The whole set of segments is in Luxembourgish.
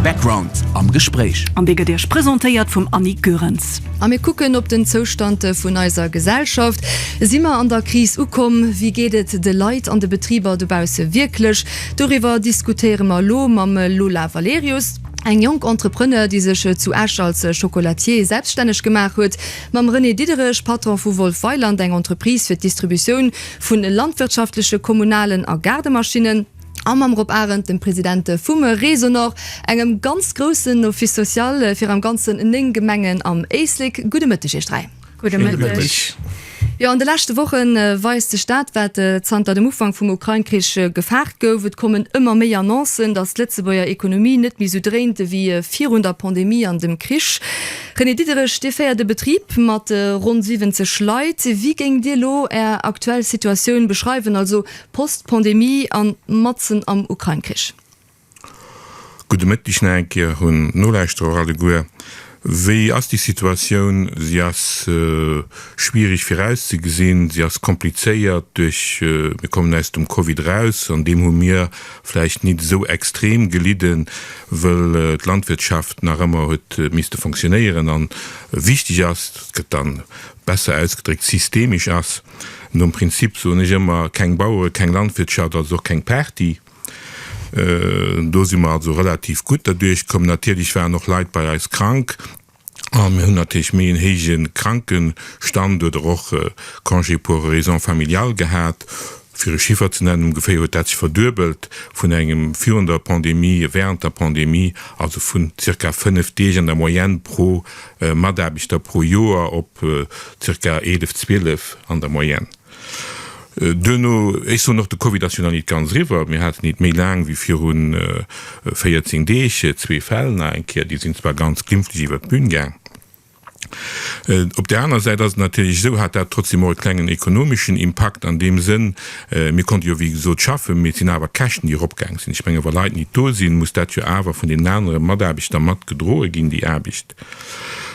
Background am Gespréich. An dee gëtt Iech presentéiert vum Annick Goerens. A mir kucken op den Zoustand vun eiser Gesellschaft. Si mer an der Kris ukomm? Wéi geet et de Leit an de Betriber dobausse wierklech? Doriwwer diskutéiere mer elo mam Lola Valerius, eng jonk Entrepreneur, déi sech zu Esch als Chocolatier selbstänneg gemaach huet, mam René Diederich, Patron vu Wolf Weiland, eng Entreprise fir d'Distributioun vu landwirtschaftleche, kommunalen a Gaardemaschinnen. a mam Rob Arendt, dem Presidente vum Resonor, engem ganz groussen Office social fir am Ganzen 9 Gemengen am Éislek. Gudde Mëtteg Iech dräi. Gudde Mëtteg. Jo, an de leschte Woche weist sech dat, wat zanter dem Ufank vum Ukrain-Krich gefaart gouf. Et kommen ëmmer méi Annoncen, datt d'Lëtzebuerger Ekonomie net méi esou dréint ewéi virun der Pandemie an dem Krich. René Diderich, Dir féiert e Betrib mat ronn 70 Leit. Wéi géingt Dir elo Är aktuell Situatioun beschreiwen, also Post-Pandemie an matzen am Ukrain-Krich. Gudde Mëtteg nach eng Kéier un d'Nolauschterer alleguer. Wéi ass déi Situatioun? Si ass schwierig virauszegesinn, si ass komplizéiert duerch, mir kommen aus dem Covid eraus, an deem hu mir vläicht nit esou extrem gelidden, wëll d'Landwirtschaft nach ëmmer huet misste fonctionnéieren a wichteg ass, dat gëtt dann besser ausgedréckt, systemisch ass. Nom Prinzip soen ech ëmmer, keng Bauere, keng Landwirtschaft, also och keng Party. Do si mer also relativ gutt derduerchkomm. Natierlech waren och Leit bei eis krank a mir hunn natierlech méi en héije Krankenstand oder och Congé pour raisons familiales gehat. Fir e Chiffer ze nennen, ongeféier huet dat sech verduebelt vun engem virun der Pandemie, während der Pandemie, also vun zirka fënnef Deeg an der Moyenne pro. Mataarbechter pro Joer op zirka 11, 12 an der Moyenne. Duerno, ech soen och, de Covid ass jo nach nit ganz eriwwer, mir haten nit méi laang wéi viru 14 Deeg zwee Fäll nach eng Kéier, déi sinn zwar ganz glimpflech iwwert d'Bün gaang. Op där aner Säit ass et natierlech esou, hat dat trotzdem och e klengen ekonomeschen Impakt an deem Sënn, Mir konnte jo, wéi gesot, schaffen, mee et sinn awer Käschten, déi eropgaang sinn. Ech mengen, wa Leit nit do sinn, muss dat jo awer vun deenen anere Mataarbechter mat gedroe ginn, déi Aarbecht.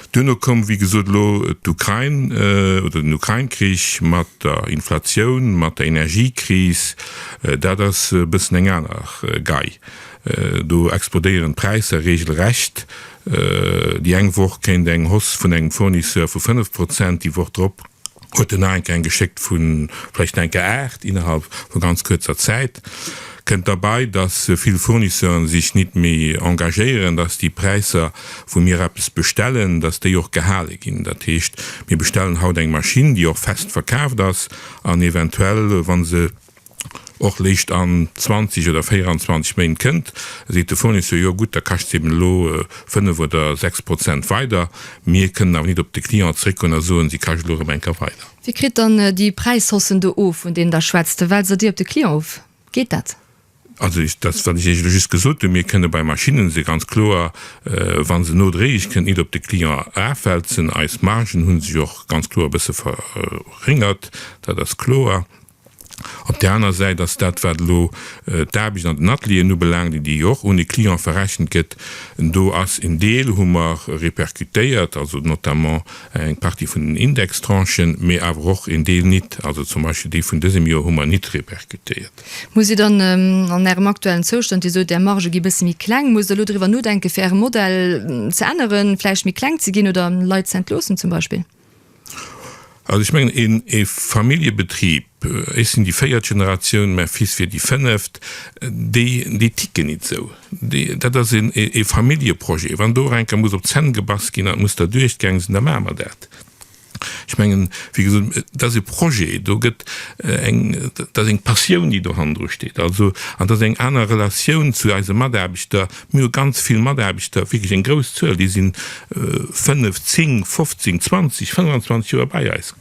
Duerno koum, wéi gesot, elo d'Ukrain oder den Ukrain-Krich mat der Inflatioun, mat der Energiekris. Dat ass e bëssen eng aner Gei. Do explodéieren d'Präisser regelrecht. Déi eng Woch kéint eng Hausse vun engem Fournisseur vu 5 Prozent, déi Woch drop huet en nach eng Kéier eng geschéckt vu vläicht eng Kéier 8 innerhalb vu ganz kuerzer Zäit. Kënnt derbei, dass vill Fournisseuren sech nit méi engagéieren, dass déi Präisser, wou mir eppes bestellen, dass déi och gehale ginn. Dat heescht, mir bestellen haut eng Maschinn, déi och fest verkaaft ass an eventuell, wa se, och léischt an 20 oder 24 Méint kënnt, seet de Fournisseur, jo gutt, da kascht se eben elo 5 oder 6 Prozent weider. Mir kënnen awer nit op de Client zréckgoen a soen, si kascht elo erëm eng Kéier weider. Wie kritt dann déi Präishaussen do of, vun deenen Der schwätzt? Well se déi op de Client of? Geet dat? Also dat ass, wat ech Iech elo just gesot hunn. Mir kënne bei Maschinnen se ganz kloer, wa se nodréiglech kënnt, nit op de Client erafwälzen. Eis Margen hu sech och ganz kloer e bësse verréngert, dat ass kloer. Op där aner Säit ass dat, wat elo d'Aarbecht an den Atelieren ubelaangt, déi déi jo och un de Client verrechent gëtt, do ass en Deel, hu mer répercutéiert, also notamment eng Partie vun den Indextranchen, mee awer och en Deel nit, also zum Beispill déi vun dësem Jor hu mer nit répercutéiert. Musst Dir dann an Ärem aktuellen Zoustand, Dir sot, Är Margë gi bësse méi kleng, musst Der elo driwwer nodenken, fir Äre Modell ze änneren, vläicht méi kleng ze ginn oder Leit z'entloossen zum Beispill? Also ech mengen een ee Familljebetrib, ech sinn déi véiert Generatioun, mäi Fils wier déi fënneft, déi déi ticken nit esou. Déi dat ass een ee Familljeprojet. Wann do och eng Kéier muss op d'Zänn gebass ginn an et muss derduerch gaang sinn, da maache mer dat. Ech mengen, wéi gesot, et ass ee Projet, do gëtt eng dat ass eng Passioun déi dohannendru steet, also an dat ass eng aner Relatioun zu eise Mataarbechter, Mir hu ganz vill Mataarbechter, wierklech eng grouss Zuel, déi si fënnef, zéng, fofzéng, zwanzeg, fënnwanzwanzeg Joer bei eis.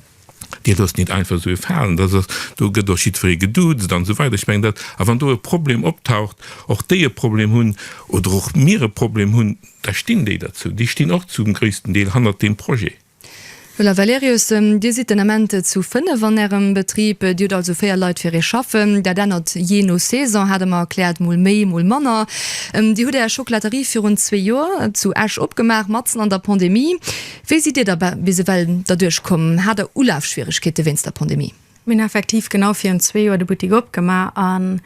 Dir loosst nit einfach esou ee falen. Dat ass, do gëtt och jiddweree geduuzt an esou weider. Ech mengen dat. A wann do e Problem optaucht, och déi e Problem hunn oder och mir e Problem hunn, da stinn déi derzou. Déi stinn och zum gréissten Deel hannert deem Projet. Müller Valerius, Dir sidd den Ament zu 5 an Ärem Betrib, Dir hutt also 4 Leit fir Iech schaffen. Dat ännert jee no Saison, hate mer erkläert, mol méi, mol manner. Dir hutt Är Chocolaterie virun zwee Joer zu Esch opgemaach, matzen an der Pandemie. Wéi sidd Dir da bis ewell derduerch komm? Hat Der Ulafschwieregkeete wéinst der Pandemie? Mir hunn effektiv genau virun zwee Joer de Buttik opgemaach an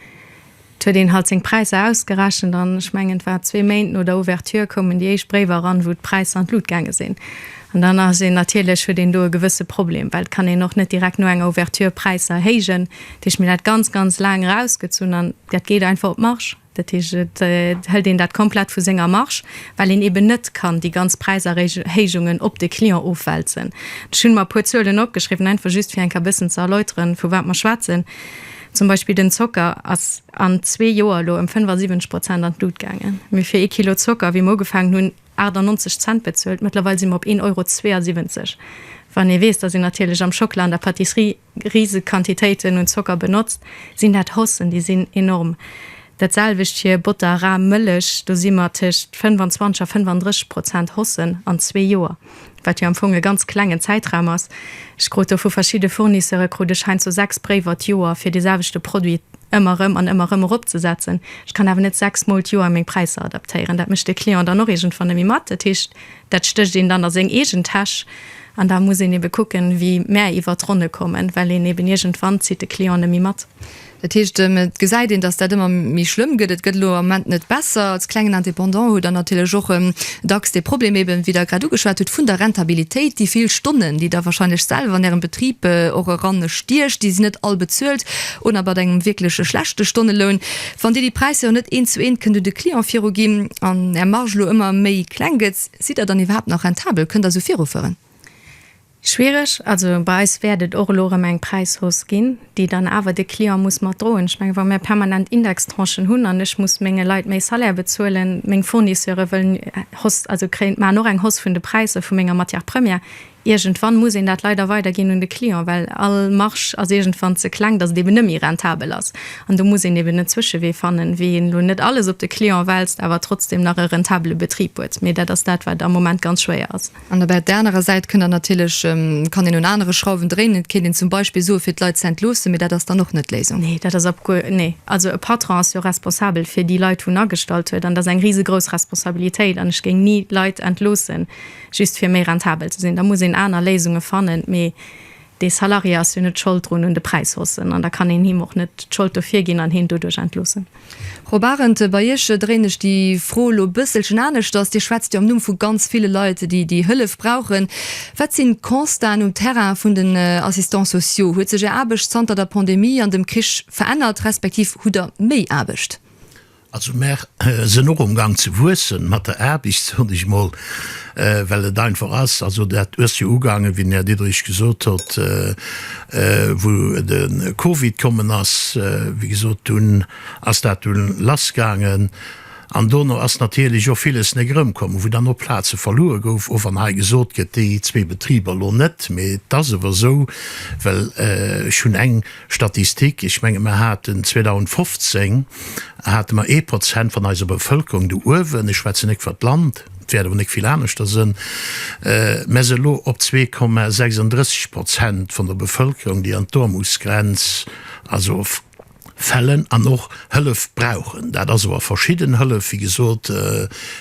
et huet een halt seng Präisser ausgerechent an ech mengen et war zwee Méint no der Ouverture koumen déi éischt Bréiwer eran, wou d'Präisser an d'Lut gaange sinn an dann ass een natierlech, huet een do e gewësse Problem, well et kann een och net direkt no enger Ouverture Präisser erhéijen. Dat heescht, mir hunn dat ganz, ganz laang erausgezunn an dat geet einfach op d'Marge. Dat heescht, et hëlt een dat komplett vu senger Marge, well een eben net kann déi ganz Präiserhéijungen op de Client ofwälzen. Ech hunn mer e puer Zuelen opgeschriwwen, einfach just fir eng Kéier e bëssen ze erläuteren, vu wat mer schwätzen. Zum Beispill den Zocker ass an zwee Joer elo ëm 75 Prozent an d'Lut gaangen. Mir hu fir ee Kilo Zocker, wéi mer ugefaangen hunn, 98 Cent bezuelt, mëttlerweil si mer op 1,72 Euro. Wann ee weess, dass een natierlech am Schockela an der Patisserie riseg Quantitéiten un Zocker benotzt, sinn dat Hossen, déi sinn enorm. Dat selwecht fir Botter, Ram, Mëllech, do si mer tëscht 25 a 35 Prozent Hossen an zwee Joer, wat jo am Fong e ganz klengen Zäitraum ass. Ech krut do vu verschidde Fournisseure krut ech heiansdo sechs Bréiwer d'Joer fir dee selwechte Produit ëmmer erëm an ëmmer erëm eropzesetzen. Ech kann awer net sechs Mol d'Joer meng Präisser adaptéieren, dat mécht de Client dann och iergendwann nemmi mat. Dat heescht, Dat stécht een dann a seng eegen Täsch. An da muss een ebe kucken, wéi mär iwwer d'Ronne kommen, well een eben iergendwann zitt de Client net méi mat. Dat heescht, et gesäit een, datt dat ëmmer méi schlëmm gëtt. Et gëtt elo am Moment net besser. Als klengen Indépendant hutt Der natierlech och dacks dee Problem, eben wéi Der grad ugeschwat hutt, vun der Rentabilitéit. Déi vill Stonnen, déi Der wahrscheinlech selwer an Ärem Betrib och eranstiecht, déi sinn net all bezuelt oder mat engem wierklech schlechte Stonneloun. Wann Dir déi Präisser jo net eent zu eent kënnt un de Client viru ginn an Är Marge elo ëmmer méi kleng gëtt, sidd Der dann iwwerhaapt nach rentabel? Kënnt Der esou virufueren? Schwiereg. Also bei eis wäert et och elo erëm eng Präishausse ginn, déi dann awer de Client muss mat droen. Ech menge wa mir permanent Indextranchen hunn an ech muss menge Leit méi Salaire bezuelen, meng Fournisseure wëllen Hausse, also kréien, maachen och eng Hausse vun de Präisser vu menger Matière première, Iergendwann muss een dat leider weiderginn un de Client, well all Marge ass iergendwann ze kleng, datt et eben net méi rentabel ass. An do muss een eben en Zwëschewee fannen, wéi een elo net alles op de Client wälzt, awer trotzdeem nach e rentabele Betrib huet. Mee dat ass dat, wat am Moment ganz schwéier ass. An op där anerer Säit kënnt dann natierlech, kann een un anere Schrauwen dréinen. Et kéint een zum Beispill soen, fir d'Leit ze entloossen, mee dat ass dann och net d'Léisung. Nee, dat ass op guer. Nee, also e Patron ass jo responsabel fir déi Leit, wou en agestallt huet. An dat ass eng risegrouss Responsabilitéit. An ech géing ni Leit entloossen, Just fir méi rentabel ze sinn. Da muss een aner Léisunge fannen. Mee dee Salarié ass jo net Schold drun un de Präishaussen. An da kann een him och net d'Schold dofir ginn an hien doduerch entloossen. Frau Barend, bei Iech dréin ech déi Fro elo e bësselchen aneschters. Dir schwätzt jo am Numm vu ganz ville Leit, déi déi Hëllef brauchen. Wat sinn d'Constaten um Terrain vun den Assistants sociaux? Huet sech Är Aarbecht zanter der Pandemie an dem Krich verännert, respektiv hutt Der méi Aarbecht? Also mär sënn och um Gang ze wuessen mat der Aarbicht, soen ech mol, well et einfach ass, also dat uess jo ugaangen, wéi den Här Diderich gesot hott, wou de Covid kommen ass, wéi gesot, dunn ass dat dunn lass gaangen an dono ass natierlech och villes nek erëmkommen, wou dann och Plaze verluer gouf, och wann hei gesot gëtt, déi zwee Betriber elo net, mee et ass ewer esou, well ech hunn eng. Statistik, Ech menge mer haten 2015 hate mer ee Prozent vun eiser Bevëlkerung do uewen, ech schwätzen net iwwert d'Land, et wäert awer net vill aneschter sënn, mer se elo op zwee Komma 36 Prozent vun der Bevëlkerung, déi an d'Aarmutsgrenz also fällen an och Hëllef brauchen. Dat ass awer verschidden Hëllef, wéi gesot,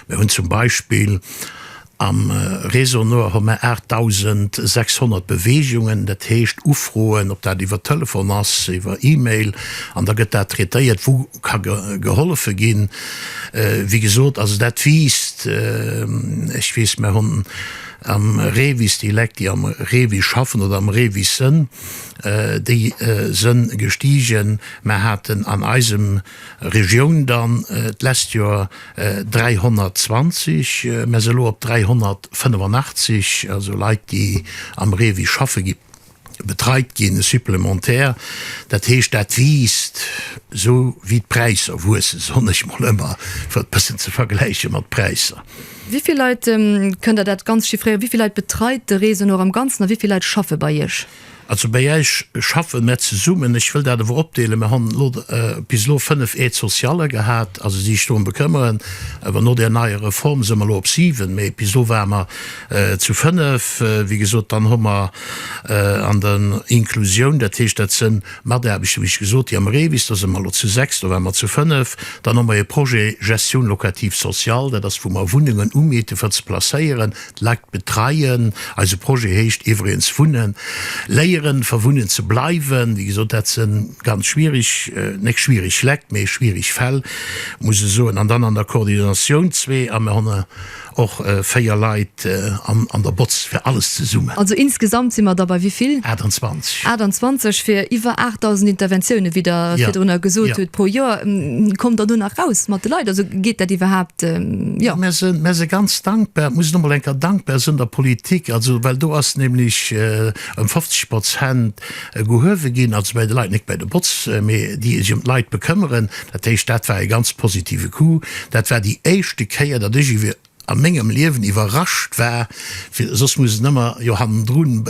mir hunn zum Beispill Am Réseau Nord hu mer 8.600 Beweegungen, dat heescht Ufroen, ob dat iwwer Telefon ass, iwwer E-Mail, an da gëtt dat traitéiert, wou ka gehollefe ginn. Wéi gesot, also dat wiisst, ech weess, mer hunn am REVIS déi Lek, déi am REVIS schaffen oder am REVIS sënn, déi sënn gestigen. Mer haten an eisem. Regioun dann d'lesst Joer 320, mer si elo op 385, also Leit, déi am REVIS schaffe gi betreit ginn, supplémentaires. Dat heescht, dat wiisst, esou wéi d'Präisser wuessen, soen ech mol ëmmer, fir et e bëssen ze vergläiche mat d'Präisser. Wéi vill Leit, kënnt Der dat ganz chiffréieren, wéi vill Leit betreit de REVIS elo am Ganzen a wéi vill Leit schaffe bei Iech? Also bei Äech schaffe mär zesummen. Ech wëll dat ewer opdeelen. Mär han elo bis elo 5 Aides sociales gehat, also si sech dorëm bekëmmeren. Awer no där neier Reform si mer elo op 7, mee bis elo ware mer zu 5. Wéi gesot, dann hu mer an der Inclusioun, dat heescht dat sënn Mataarbechter, wéi ech gesot, déi am REVIS, do si mer elo zu 6, do ware mer zu 5. Dann hu mer e Projet Gestion locative sociale, dat ass wou mer Wunnengen umieten, fir ze placéieren. Leit betreien, eise Projet heescht iwwregens wunnen, léieren fir wunnen ze bleiwen. Wéi gesot, dat se ganz schwierig, net schwierig Lekt, mee schwierig Fäll, muss e soen. An dann an der Koordinatioun zwee, a mir hunn och véier Leit an der Botz fir alles zesummen. Also insgesamt si mer da bei wivill? 28. 28 fir iwwer 8.000 Interventiounen, wéi Der virdrunner gesot hutt, pro Joer. Kommt Der do nach raus mat de Leit? Also geet dat iwwerhaapt? Jo, mär sinn, mär si ganz dankbar, muss ech nochmol eng Kéier dankbar sinn der Politik, also well do ass nämlech ëm 50 Prozent gehuewe ginn, also bei de Leit, net bei de Botz, mä déi sech ëm d'Leit bekëmmeren. Dat heescht, dat war e ganz positive Coup. Dat war déi éischte Kéier, datt ech iwwe a mengem Liewen iwwerrascht war, fir soss muss en ëmmer jo hannendrun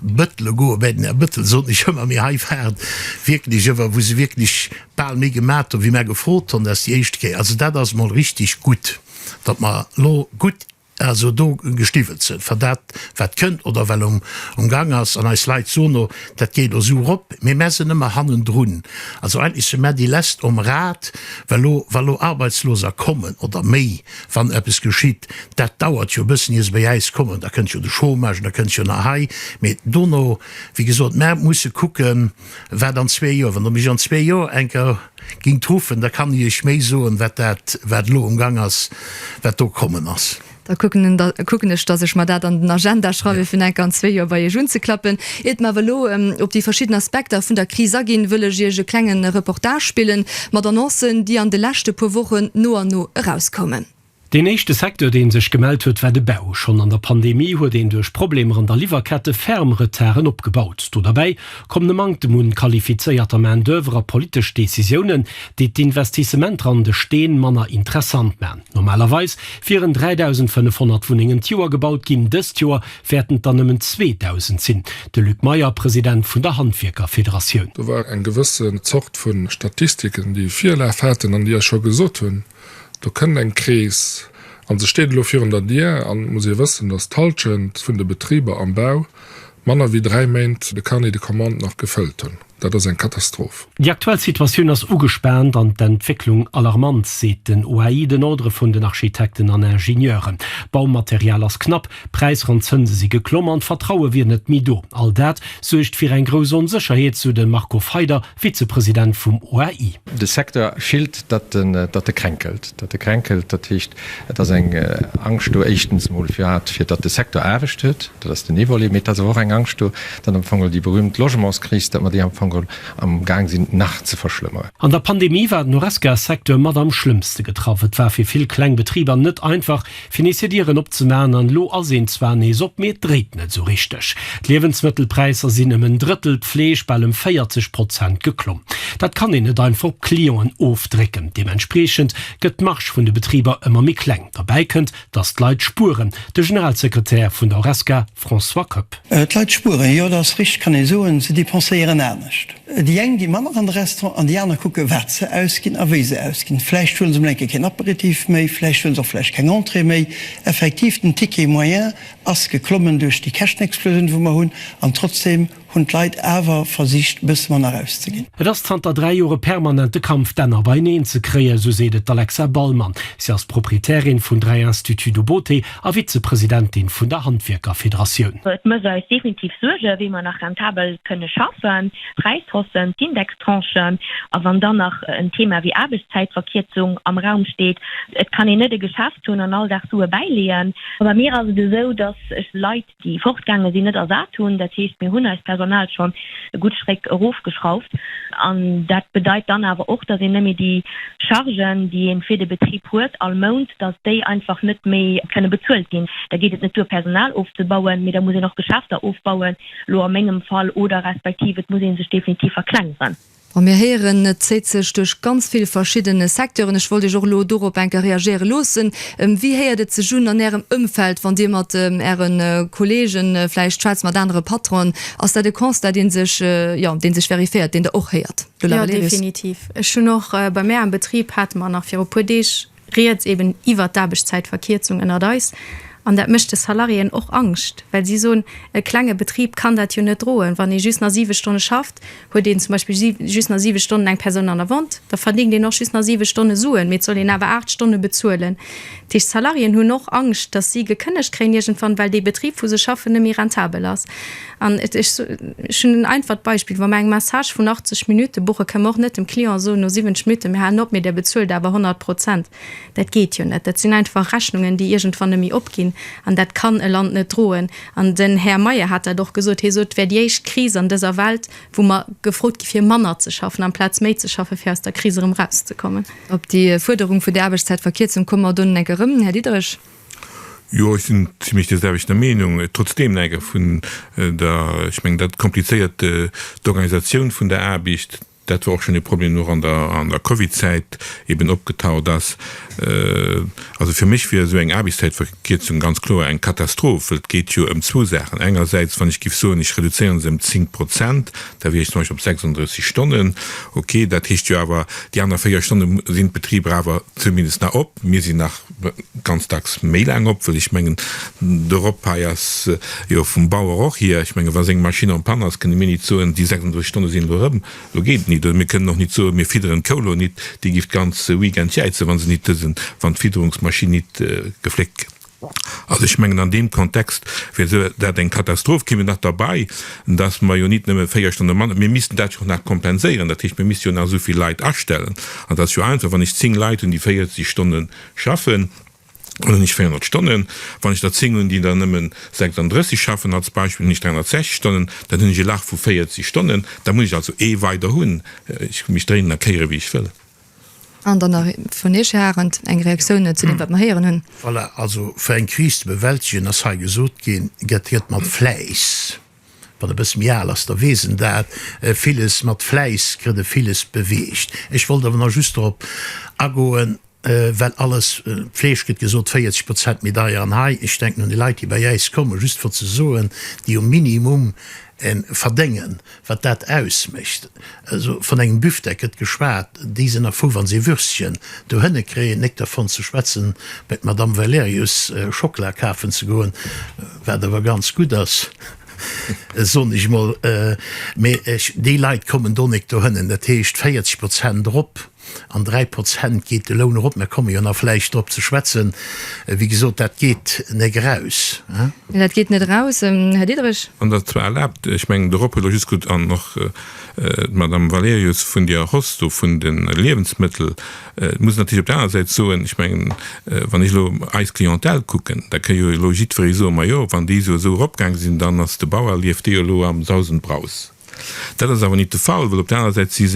bëttele goe bei den Här Bëttel, soten ech ëmmer, mee hei war et wierklech ëmmer, wou se wierklech Bal méi gemat hun wéi mär gefrot han, dat ass déi éischt Kéier, also dat ass mol richteg gutt, datt mer lo gutt also do gestiwwelt sen, fir dat wat kënnt oder well um Gang ass, an eis Leit son o dat geet lo sou rop, mee mär sen ëmmer hannendrun, also eigentlech sen mär déi lescht om Rad, well lo wa lo Arbeitsloser kommen oder méi, wann eppes geschitt, dat dauert jo e bëssen ier se bei äis kommen, da kënnt jo de Chômage an da kënnt jo nach hei, mee dono wéi gesot mär musse kucken. Wat an zwee Joer? Wann Der mech an zwee Joer eng Kéier gingt ruffen, da kann ech Iech méi soen, wat dat, wat elo am Gang ass, wat do kommen ass. Da kucken ech, dass ech mer dat an den Agenda schreiwen, fir eng Kéier an zwee Joer bei Iech unzeklappen. Iert mer awer elo op déi verschidden Aspekter vun der Kris aginn, wëll ech Iech e klenge Reportage spillen, mat Annoncen, déi an de leschte puer Wochen no an no erauskommen. Deen éischte Secteur, dee sech gemellt huet, war de Bau. Schonn an der Pandemie huet een duerch Problemer an der Liwwerkette ferm Retarden opgebaut. Do derbäi kommen e Manktem un qualifizéierter Main d'oeuvre a politesch Decisiounen, déi d'Investissementer an de Steen manner interessant man. Normalerweis wieren 3.500 Wunnengen d'Joer gebaut ginn, dëst Joer wäerten et der nëmmen 2.000 sinn. De Luc Meyer, President vun der Handwierkerfederatioun. Do war eng gewësse Zort vu Statistiken, déi Virlaf haten an déi Iech scho gesot hunn, Do kënnt eng Krees an se steet elo virun der Dier. An et muss ee wëssen, dass d'Hallschent vun de Betriber am Bau manner wéi dräi Méint de Carnet de commandes nach gefëllt hunn. Dat ass eng Katastroph. Déi aktuell Situatioun ass ugespaant an d'Entwécklung alarmant, seet den OAI, den Ordre vun den Architekten an Ingenieuren. D'Baumaterial ass knapp, d'Präisser an d'Zënse si geklomm an d'Vertraue wier net méi do. All dat suergt fir eng grouss Onsécherheet, sou de Marco Feider, Vizepresident vum OAI. De Secteur fillt, datt en, datt e kränkelt, datt e kränkelt. Dat heescht, et ass eng Angscht do, éischtens emol firwat, fir datt de Secteur Aarbecht huet, dat ass den ee Volet, mee et ass awer och eng Angscht do, datt am Fong déi berühmt Logementskris, datt mer déi am Fong amgaang sinn nach ze verschlëmmeren. An der Pandemie war den Horesca-Secteur mat am schlëmmste getraff. Et war fir vill kleng Betriber net einfach, fir nees hir Dieren opzeman an elo ass een zwar nees op, mee et dréit net esou richteg. D'Liewensmëttelpräisser sinn ëm en Drëttel, d'Fleesch bal ëm 40 Prozent geklomm. Dat kann een net einfach op d'Clienten ofdrécken. Deementspreechend gëtt d'Marge vun de Betriber ëmmer méi kleng. Derbäi kënnt, datt d'Leit spueren. De Generalsekretär vun der Horesca, François Koepp. D'Leit spueren, jo dat ass richteg, kann ee soen, se depenséieren anescht. Déi eng gi manner an de Restaurant an déi aner kucke wat se ausginn a wéi se ausginn. Vläicht huele se mol eng Kéier keen Aperitif méi, vläicht huele se och vläicht keng Entrée méi. Effektiv, den Ticket moyen ass geklommen duerch déi Käschtenexplosioun, wou mer hunn an trotzdeem, hunn d'Leit awer versicht e bësse manner erauszeginn. Et ass zanter dräi Joer e permanente Kampf, d'Enner beieneen ze kréien, esou seet et d'Alexa Ballmann. Si ass Proprietärin vun dräi Instituts de beauté a Vizepresidentin vun der Handwierkerfederatioun. Et mécht eis definitiv Suergen, wéi mer nach rentabel kënne schaffen. D'Präishaussen, d'Indextranchen a wann dann nach en Thema wéi Aarbechtszäitverkierzung am Raum steet. Et kann een net e Geschäft hunn an all Dag Sue bäileeën. Bei mir ass et esou, datt ech Leit déi fortgaange sinn, net ersat hunn. Dat heescht, mir hunn eist Personal schonn e gutt Stréck erofgeschrauft. An dat bedeit dann awer och, dass een net méi déi Chargen, déi ee fir de Betrib huet all Mount, dass déi einfach net méi kënne bezuelt ginn. Da geet et net duer, Personal ofzebauen, mee da muss een och Geschäfter ofbauen, elo a mengem Fall, oder respektiv et muss ee sech definitiv verklengeren. Bon, mir héieren, et zéit sech duerch ganz vill verschidden Secteuren. Ech wollt Iech och elo dorop enker reagéiere loossen. Wéi héiert et sech un an Ärem Ëmfeld, wann Dir mat Äre Kolleegen vläicht schwätzt, mat anere Patronen? Ass dat e Constat, dee sech, jo, dee sech veriféiert, deen Der och héiert? Jo, definitiv. Ech hunn och, bei mär am Betrib hate mer nach viru puer Deeg, Rieds eben iwwert d'Aarbechtszäitverkierzung ënnert eis. An dat mécht de Salariéen och Angscht, well si soen, e klenge Betrib kann dat jo net droen. Wann ee just nach siwe Stonne schafft, huet een zum Beispill just nach siwe Stonnen eng Persoun an der Vente, da verdéngt een och just nach siwe Stonne Suen, mee et soll een awer aacht Stonne bezuelen. Dat heescht, d'Salariéen hunn och Angscht, datt si gekënnegt kréien iergendwann, well dee Betrib, wou se schaffen, net méi rentabel ass. An et, ech hunn en einfacht Beispill, wa mer eng Massage vun 80 Minutte buchen, kënne mer och net dem Client soen, no 70 Minutte, mir halen op, mee där bezuelt awer 100 Prozent. Dat geet jo net. Dat sinn einfach Rechnungen, déi iergendwann net méi opginn. An dat kann e Land net droen. An den Här Meyer hat dat och gesot. Hie sot, et wär déi éischt Kris an dëser Welt, wou mer gefrot gi fir manner ze schaffen amplaz méi ze schaffen, fir aus der Kris erëm erauszekommen. Op déi Fuerderung vun der Aarbechtszäitverkierzung komme mer donnen eng Kéier erëm. Här Diderich. Jo, ech sinn zimlech där selwechter Meenung. Trotzdeem läit et vun der, ech mengen, dat komplizéiert d'Organisatioun vun der Aarbecht. Dat war och schonn e Problem och an der, an der Covid-Zäit eben opgetaucht ass. Also fir mech wier esou eng Aarbechtszäitverkierzung ganz kloer eng Katastroph, wëll et geet jo ëm zwou Saachen. Engersäits, wann ech géif soen, ech reduzéieren se ëm 10 Prozent, da wier ech zum Beispill op 36 Stonnen. Okay, dat heescht jo awer, déi aner 4 Stonne sinn d'Betriber awer zumindest nach op. Mir sinn nach ganz dacks méi laang op, well ech mengen de Rob hei ass jo vum Bauer och hier, ech menge wa seng Maschinn en panne ass, kënne mir nit soen déi 36 Stonne sinn elo erëm, elo geet et nit, oder mir kënnen och nit soen mir fidderen d'Kou elo nit, déi giff d'ganz Weekend jäizen wa se nit dësen, wann d'Fidderungsmaschinn nit gefléckt gëtt. Also ech mengen an deem Kontext wier esou dat eng Katastroph. Keen huet nach derbei dass mer jo nit nëmme véier Stonne manner, mir missten dat jo och nach kompenséieren, dat heescht, mir misste jo nach esou vill Leit astellen. An et ass jo einfach, wann ech zéng Leit hunn, déi 40 Stonne schaffen, dann hunn ech 400 Stonnen. Wann ech der zéng hunn, déi der nëmmen 36 schaffen, als Beispill, hunn ech 360 Stonnen, dann hunn ech e Lach vu 40 Stonnen. Da muss ech also ee weider hunn. Ech hu mech dréinen a kéiere wéi ech wëll. An dann nach vun Iech, Här Arendt, eng Reaktioun zu deem, wat mer héieren hunn. Voilà, also fir eng Kris ze bewältegen, ass hei gesot ginn, gëtt hiert mat Fläiss. Wann e bësse méi al ass, da weess en dat. Villes mat Fläiss kritt e villes beweegt. Ech wollt awer nach just dorop agoen, well alles, d'Fleesch gëtt gesot, 40 Prozent méi deier. An hei, ech denken un déi Leit, déi bei äis kommen, just fir ze soen, déi um Minimum verdéngen, Wat dat ausmécht, also von engem Büftek gëtt geschwat, déi sen a fou wann se Würstchen dohënne kréien, néck dervon ze schwätzen bei d'Madame Valerius Schokla kafen ze goen, wat awer ganz gutt ass, son ech mol, mee déi Leit kommen do néck dohënnen, dat heescht 40 Prozent erop. An 3 Prozent geet de Loun erop. Mer komme jo nach vläicht drop ze schwätzen. Wéi gesot, dat geet net eraus. Nee, dat geet net eraus, Här Diderich. Wann Der zwar erlaabt, ech mengen, de Rob huet elo just gutt an och d'Madame Valerius vun Dir Hoss do vun de Liewensmëttel. Et muss een natierlech op der aner Säit soen, ech mengen, wann ech elo eis Clientèle kucken, da kéint jo elo jiddweree soen, majo, wann déi esou esou eropgaange sinn, dann ass de Bauer, lieft dee jo elo am Saus und Braus. Dat ass awer nit de Fall, well op der anerer Säit si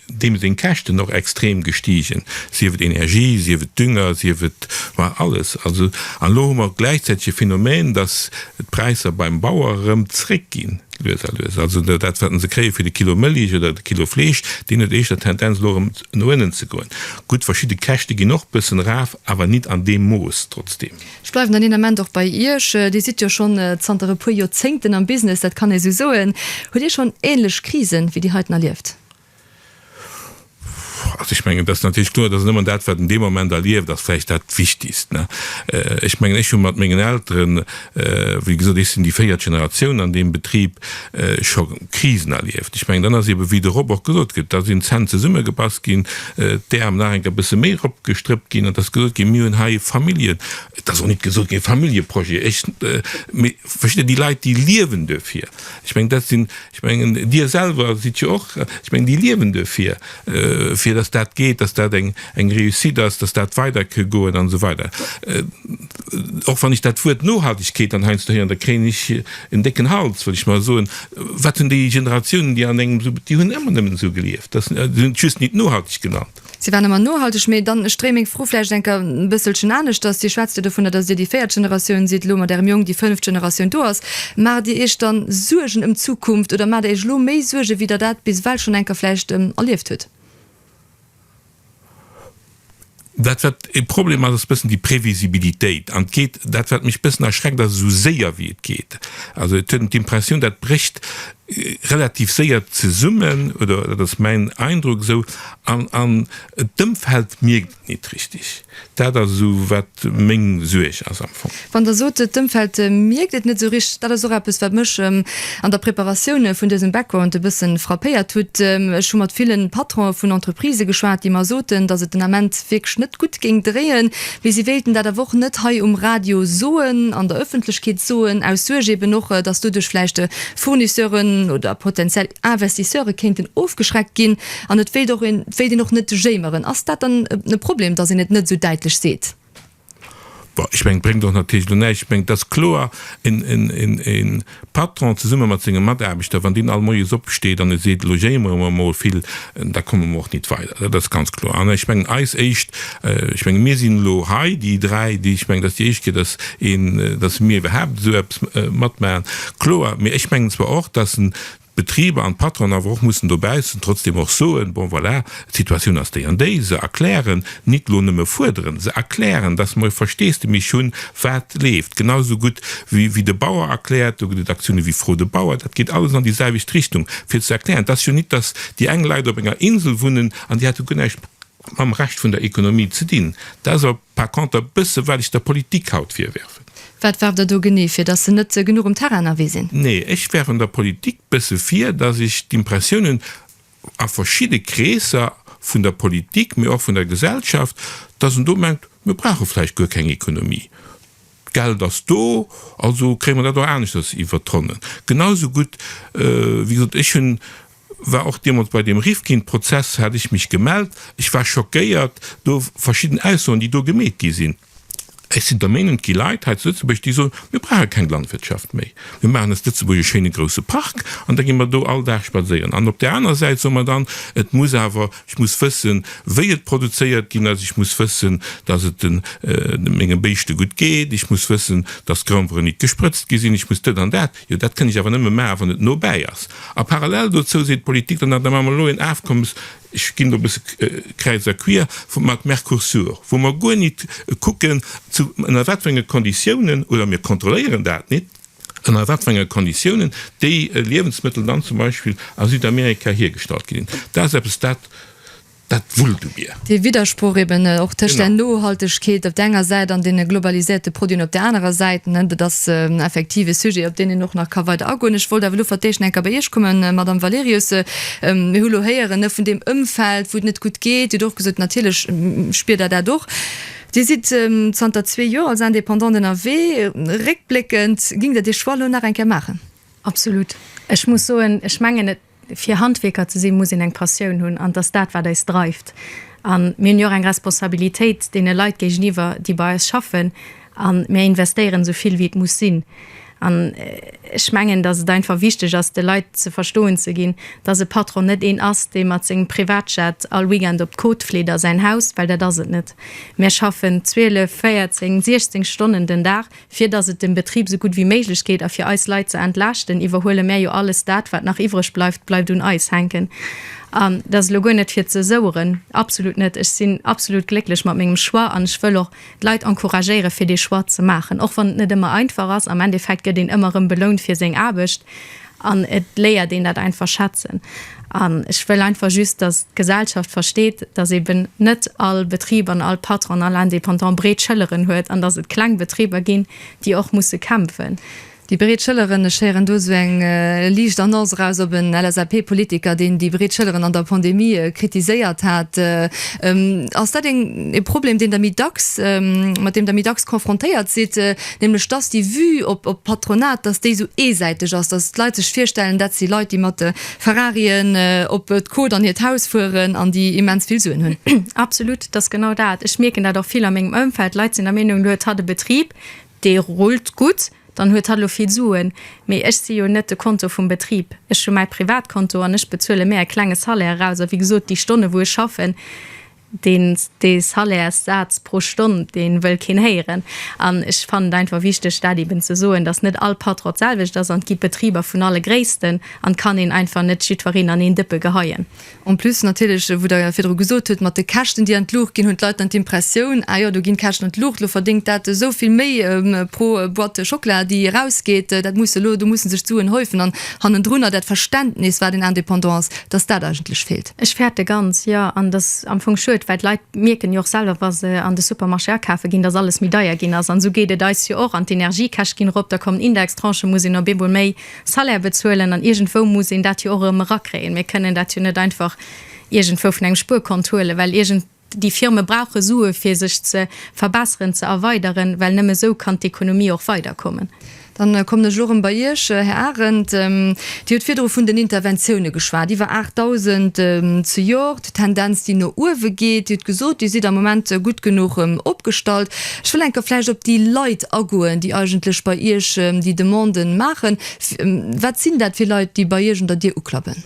deem seng Käschten och extrem gestigen, sief et Energie, sief et Dünger, sief et alles. Also, an elo hu mer gläichzäiteg e Phänomen, dass d'Präisser beim Bauer erëm zréckginn, lues a lues. Also dat, wat en se kréie fir de Kilo Mëlich oder de Kilo Fleesch, deen huet éischter d'Tendenz, elo erëm no ënnen ze goen. Gutt, verschidde Käschte ginn och bëssen eraf, awer nit an deem Mooss, trotzdeem. Ech bleiwen dann een Ament och bei Iech. Dir sidd jo schonn zanter e puer Joerzéngten am Business, dat kann ee sou soen. Hutt Dir schonn ähnlech Krisen wéi déi heiten erlieft? Also ech mengen, et ass natierlech kloer, dass een ëmmer dat, wat een dee Moment erlieft, ass vläicht dat Wichtigst, ne. Ech mengen, ech hu mat mengen Elteren, wéi gesot, ech sinn déi véiert Generatioun an deem Betrib, scho Krisen erlieft. Ech mengen, dann ass eebe wéi de Rob och gesot gëtt, da sinn d'Zänn zesummegebass ginn, d'Äerm nach eng Kéier e bësse méi eropgestrëppt ginn an et ass gesot ginn, mir hunn hei Familljen, et ass och net gesot ginn e Familljeprojet, ech, mee versteet Dir, déi Leit déi liewen duerfir. Ech mengen, dat sinn, ech mengen, Dir selwer sidd jo och, ech mengen, déi liewen duerfir, fir datt dat geet, datt dat eng Réussite ass, datt dat weider ka goen an esou weider. Och wann ech dat Wuert Nohaltegkeet dann heiansdo héieren, da kréien ech en décken Hals, well ech mer soen, wat hunn déi Generatiounen, déi an engem esou, déi hunn ëmmer nëmmen esou gelieft, dass, se hunn et just nit nohalteg genannt. Si waren ëmmer nohalteg, mee dann, ech dréi meng Fro vläicht enker e bësselchen aneschters, Dir schwätzt jo dovunner, dass Dir déi véiert Generatioun sidd, elo mat Ärem Jong déi fënneft Generatioun do ass. Maacht Dir Iech dann Suergen ëm d'Zukunft oder maacht Der Iech elo méi Suergen, wéi Der dat bis ewell schonn enker vläicht erlieft hutt? Dat wat e Problem ass, ass bëssen déi Previsibilitéit. An et geet, dat wat mech bëssen erschreckt ass, esou séier wéi et geet. Also et huet een d'Impressioun, dat brécht relativ séier zesummen, oder dat ass mäin Eindruck esou, an d'Ëmfeld mierkt et nit richtig. Dat ass esou, wat meng Suerg ass am Fong. Wann Der sot, d'Ëmfeld mierkt et net esou richteg, dat ass och eppes, wat mech an der Preparatioun vun dësem Background e bësse frappéiert hutt. Ech hu mat ville Patronë vun Entreprisë geschwat, déi mer soten, datt et den Ament wierklech net gutt géing dréien, mee si wéilten dat awer och net hei um Radio soen, an der Ëffentlechkeet soen, aus Suerg eeben och, datt doduerch vläicht Fournisseure oder potenziell Investisseure kéinten ofgeschreckt ginn. An et wéilt och een, et wéilt een och net jéimeren. Ass dat dann e Problem, datt een et net esou däitlech seet? Bon, ech mengen, et bréngt och natierlech elo näischt. Ech mengen, et ass kloer, e Patron zesumme mat senge Mataarbechter, wann deen all Moies opsteet an e seet, elo jéimere mer emol vill, da komme mer och nit weider. Dat ass ganz kloer. An ech mengen, eis éischt, ech mengen, mir sinn elo hei, déi dräi, déi, ech mengen, et ass déi éischt Kéier, datt een, datt mir iwwerhaapt esou eppes matmaachen, kloer. Mee ech mengen zwar och, datt en D'Betriber an d'Patronen awer och mussen dobaussen trotzdeem och soen, bon voilà, d'Situatioun ass déi an déi, se erklären, nit lo nëmme fuerderen, se erklären, dass mer e Versteesdemich hunn, wat leeft, genau esou gutt wéi wéi de Bauer erkläert, do gëtt et Aktiounen wéi Fro de Bauer, dat geet alles an déi selwecht Richtung, fir ze erklären, et ass jo nit, dass déi eng Leit op enger Insel wunnen an déi hätte guer näischt mam Rescht vun der Ekonomie ze dinn, dat ass a. Par conter bësse well ech der Politik haut virwerfen. Wat werft Der do genee vir? Datt se net genuch um Terrain ënnerwee sinn? Nee, ech werfen der Politik bësse vir, datt ech d'Impressiounen a verschidde Kreesser vun der Politik, mee och vun der Gesellschaft, datt en do mengt, mir brauche vläicht guer keng Ekonomie, d'Geld ass do, also kréie mer dat och aneschters iwwer d'Ronnen. Genau esou gutt, wéi gesot, ech hunn war och deemols bei deem Rifkin Prozess hat ech mech gemellt, ech war schockéiert do verschidden Aussoen déi do gemeet gi sinn. Ech sinn der Meenung et gi Leit hei zu Lëtzebuerg déi soen, mir brauche keng Landwirtschaft méi, mir maachen aus Lëtzebuerg e schéine grousse Park an da gi mer do all Dag spadséieren an op där aner Säit soe mer dann, et muss awer, ech muss wëssen wéi et produzéiert ginn ass, ech muss wëssen datt et menge Béischte gutt geet, ech muss wëssen datt d'Groundweren nit gesprëtzt gi sinn, ech muss dëtt an dat. Jo, dat kënn ech awer nëmme maachen, wann et nobäi ass. A parallel dozou seet d'Politik dann nach, da maache mer elo en Afkommes, ech ginn elo e bësse kräiz a quier, vu mat Mercosur, wou mer guer nit kucken, zu ënner wat fir enge Konditiounen, oder mir kontrolléieren dat nit, ënner wat fir enge Konditiounen déi Liewensmëttel dann zum Beispill a Südamerika hiergestallt ginn. Dat ass eppes, dat Dat wullt u mir. Dee Widdersproch eben och tëscht där Nohaltegkeet op der enger Säit an deene globaliséierte Produiten op där anerer Säit, dat ass effektiv e Sujet, op deen een och nach ka weider agoen. Ech wollt awer elo fir d'éischt eng Kéier bei Iech kommen, Madamm Valerius. Mir hu elo héieren vun deem Ëmfeld, wou et net gutt geet. Dir hutt och gesot, natierlech spiert Der dat och. Dir sidd zanter zwee Joer als Indépendant ënnerwee. Réckbléckend, géingt Der dee Choix elo nach eng Kéier maachen? Absolut. Ech muss soen, ech mengen, et. Fir Handwierker ze sinn, muss een eng Passioun hunn an et ass dat, wat eis dreift. A mir hunn jo och eng Responsabilitéit deene Leit géigeniwwer, déi bei eis schaffen a mir investéieren esou vill, wéi et muss sinn. An ech mengen, datt et einfach wichteg ass, de Leit ze verstoen ze ginn, datt e Patron net een ass, dee mat sengem Privatjet all Weekend op d'Côte fleet a säin Haus, well dat ass et net. Mir schaffen 12, 14, 16 Stonnen den Dag. Fir dass et dem Betrib sou gutt wéi méiglech geet a fir eis Leit ze entlaaschten, iwwerhuele mär jo alles dat, wat nach iwwreg bleift, bleift un eis hänken. An dat ass elo guer net fir ze soueren, absolut net. Ech sinn absolut glécklech mat mengem Choix an ech wëll och d'Leit encouragéieren, fir dee Choix ze maachen, och wann et net ëmmer einfach ass. Am Endeffekt gëtt een ëmmer erëm belount fir seng Aarbecht An et léiert een dat einfach schätzen. An ech wëll einfach just, dass d'Gesellschaft versteet, dass eben net all Betrib an all Patron, all Indépendant breet Schëlleren huet an dass et kleng Betriber ginn, déi och musse kämpfen. Déi breet Schëlleren, ech héieren do esou eng liicht Annonce eraus op en LSAP-Politiker, deen déi breet Schëlleren an der Pandemie kritiséiert hat. Ass dat e Problem, deen Der méi dacks, mat deem Der méi dacks confrontéiert sidd? nämlech dass déi Vue op d'Patronat, dass déi esou eesäiteg ass, dass d'Leit sech virstellen, dat si Leit, déi mat de Ferrarien op d'Côte an hiert Haus fueren an déi immens vill Suen hunn. Absolut, et ass genau dat. Ech mierken dat och vill a mengem Ëmfeld. Leit sinn der Meenung, elo huet hatt e Betrib, dee rullt gutt, dann huet hatt elo vill Suen. Mee ech si jo net de Konto vum Betrib. Ech hu mäi Privatkonto an ech bezuele mär e klenge Salaire eraus. A wéi gesot, déi Stonne wou ech schaffen, Dee Salairssaz pro Stonn, dee wëll keen héieren. An ech fannen et einfach wichteg, dat eeben ze soen, dass net all Patron d'selwecht ass. An et gi Betriber vun alle Gréissten. An et kann een einfach net jiddwereen an een Dëppe geheien. En plus natierlech, wou Der virdru gesot hutt, mat de Käschten, déi an d'Luucht ginn, hunn d'Leit dann d'Impressioun, Ah jo, do ginn d'Käschten an d'Luucht, elo verdéngt dat esou vill méi pro Boîte Schockela, déi erausgeet. Dat muss elo, do musse sech d'Suen häufen. An hannendrunner dat Verständnis, wat een Indépendant ass, dass dat eigentlech feelt. Ech fäerte ganz, jo. An et ass am Fong schued, well d'Leit mierken jo och selwer, wa se an de Supermarché akafe ginn, datt alles méi deier ginn ass. An esou geet et eis jo och. An d'Energiekäscht ginn erop, da kommen Indextranchen, muss een op eemol méi Salaire bezuelen. An iergendwou muss een dat jo och erëm erakréien. Mir kënnen dat jo net einfach iergendwou vun engem Spuerkont huelen, well iergend. Déi Firme brauche Sue fir sech ze verbesseren, ze erweideren, well nëmme esou kann d'Ekonomie och weiderkommen. Dann kommen ech elo erëm bei Iech, Här Arendt. Dir hutt virdru vun den Interventioune geschwat, iwwer 8.000 zejoert, d'Tendenz déi no uewe geet. Dir hutt gesot, Dir sidd am Moment gutt genuch opgestallt. Ech wëll eng Kéier vläicht op déi Leit agoen, déi eigentlech bei Iech déi Demande maachen. Wat sinn dat fir Leit, déi bei Iech un der Dier uklappen?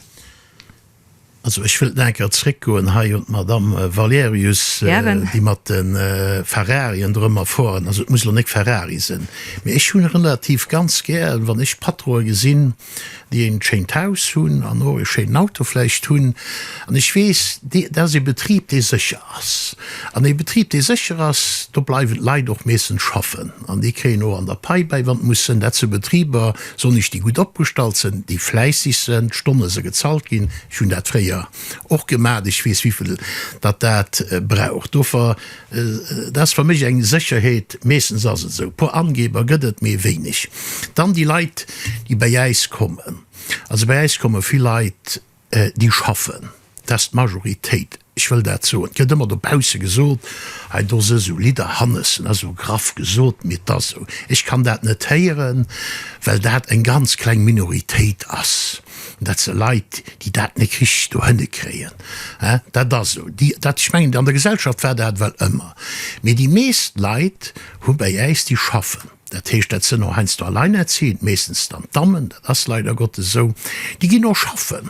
Also ech wëllt nach eng Kéier zréckgoen hei un d'Madamm Valerius, déi mat de Ferrarien do ëmmer fueren. Also et muss elo nek Ferrari sinn, mee ech hunn relativ ganz gär, wann ech Patronen gesinn, déi en schéint Haus hunn an och e schéinen Auto vläicht hunn. An ech weess, dat ass e Betrib, dee sécher ass. An e Betrib, dee sécher ass, do bleiwen d'Leit och meeschtens schaffen an déi kréien och an der Pai bäi, wann et muss sinn. Dat si Betriber, Sonnich déi gutt opgestallt sen, déi fläissig sen, d'Stonne se gezahlt gin, ech hun dat fréier och gemaat, ech wees wivill datt dat brauch dofer, dat ass fer mech eng Secherheet, meestens ass et esou, puer Angeber get et mee wéinig. Dann déi Leit déi bäi äis kommen, also bäi äis komme vill Leit déi schaffen, dat ass d'Majoritéit, ech wëll dat soen, et gëtt ëmmer dobausse gesot, hei do si esou Lidder, Hannes, dat ass esou graff gesot, mee et ass esou, ech kann dat net héieren, well dat eng ganz kleng Minoritéit ass, dat si Leit, déi dat net richteg dohinne kréien, dat ass esou, dat, ech mengen, an der Gesellschaft war dat ewell ëmmer, mee déi meescht Leit hu bei äis, déi schaffen. Dat heescht, dat sënn och heiansdo alleinerziehend, meeschtens dann d'Dammen, dat ass leider Gottes esou, déi ginn och schaffen,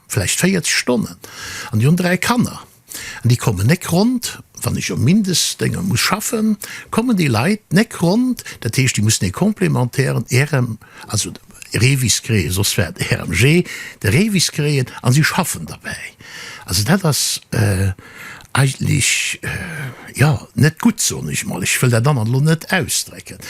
vläicht 40 Stonnen, an déi hunn dräi Kanner an déi kommen néck ronnt. Wann ech um Mindestdénger muss schaffen, kommen déi Leit néck ronnt. Dat heescht, déi mussen ee complémentairen Irem, also, Reewiskréien, soss wär et RMG, de Reewiskréien, a si schaffen derbäi. Also dat ass eigentlech, jo, net gutt, soen ech emol. Ech wëll dat anert elo net ausdrécken,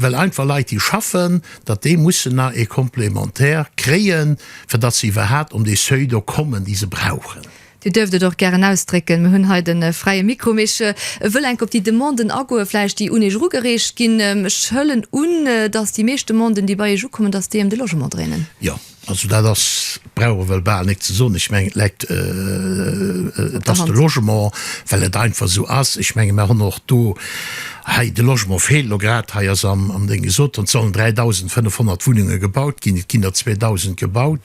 well einfach Leit, déi schaffen, datt déi mussen nach e Complémentaire kréien, fir datt se iwwerhaapt un dee Seuil do kommen, dee se brauchen. Dir duerft et och gären ausdrécken, mir hunn hei de fräie Mikro. Mee ech wëll enk op déi Demanden agoen, vläicht déi un Iech erugereecht ginn. Ech hëllen un, dass déi meescht Demanden, déi bei Iech ukommen, dass déi ëm de Logement dréinen. Jo, also dat ass, brauch ech ewell bal nik ze soen. Ech mengen, et läit op der Hand, dass de Logement, well et einfach esou ass, ech menge mir hunn och do, Hei, de Logement feelt elo grad. Hei ass am am Ding gesot ginn, et sollen 3.500 Wunnunge gebaut ginn, et ginn der 2.000 gebaut.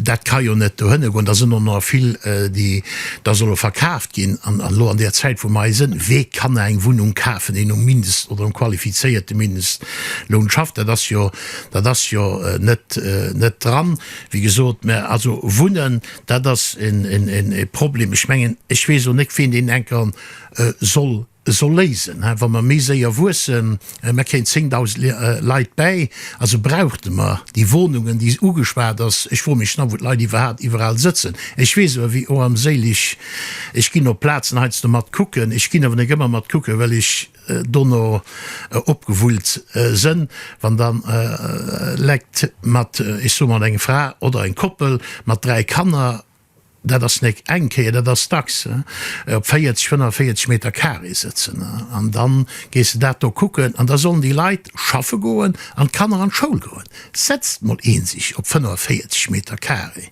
Dat ka jo net dohinner goen. Da sinn och nach vill, déi da solle verkaaft ginn. An elo an där Zäit, wou mer hei sinn, wee kann nach eng Wunnung kafen, deen um Mindest oder um qualifizierte Mindestloun schafft? Dat ass jo, dat ass jo net, net dran, wéi gesot. Mä also wunnen, dat ass en, en, en, e Problem. Ech mengen, ech weess och net, ween deen enker soll soll léisen hein, wa mer méi séier wuessen, mer kréien 10.000 Leit bäi, also brauchte mer déi Wohnungen déi ugeschwat ass. Ech froe mech nach wou d'Leit iwwerhaapt iwwerall sëtzen. Ech weess awer wéi oh am séilich ech ginn op Plazen heiansdo mat kucken, ech ginn awer net ëmmer mat kucken well ech dono opgewullt sënn, wann dann lekt mat ech soe mat eng Fra oder eng Koppel mat 3 Kanner Dat ass nek eng Kéier, dat ass dacks op 40, 45 Meter carré sëtzen. An da gees de dat do kucken. An da sollen déi Leit schaffe goen an d'Kanner an d'Schoul goen. Setzt mol ee sech op 45 Meter carré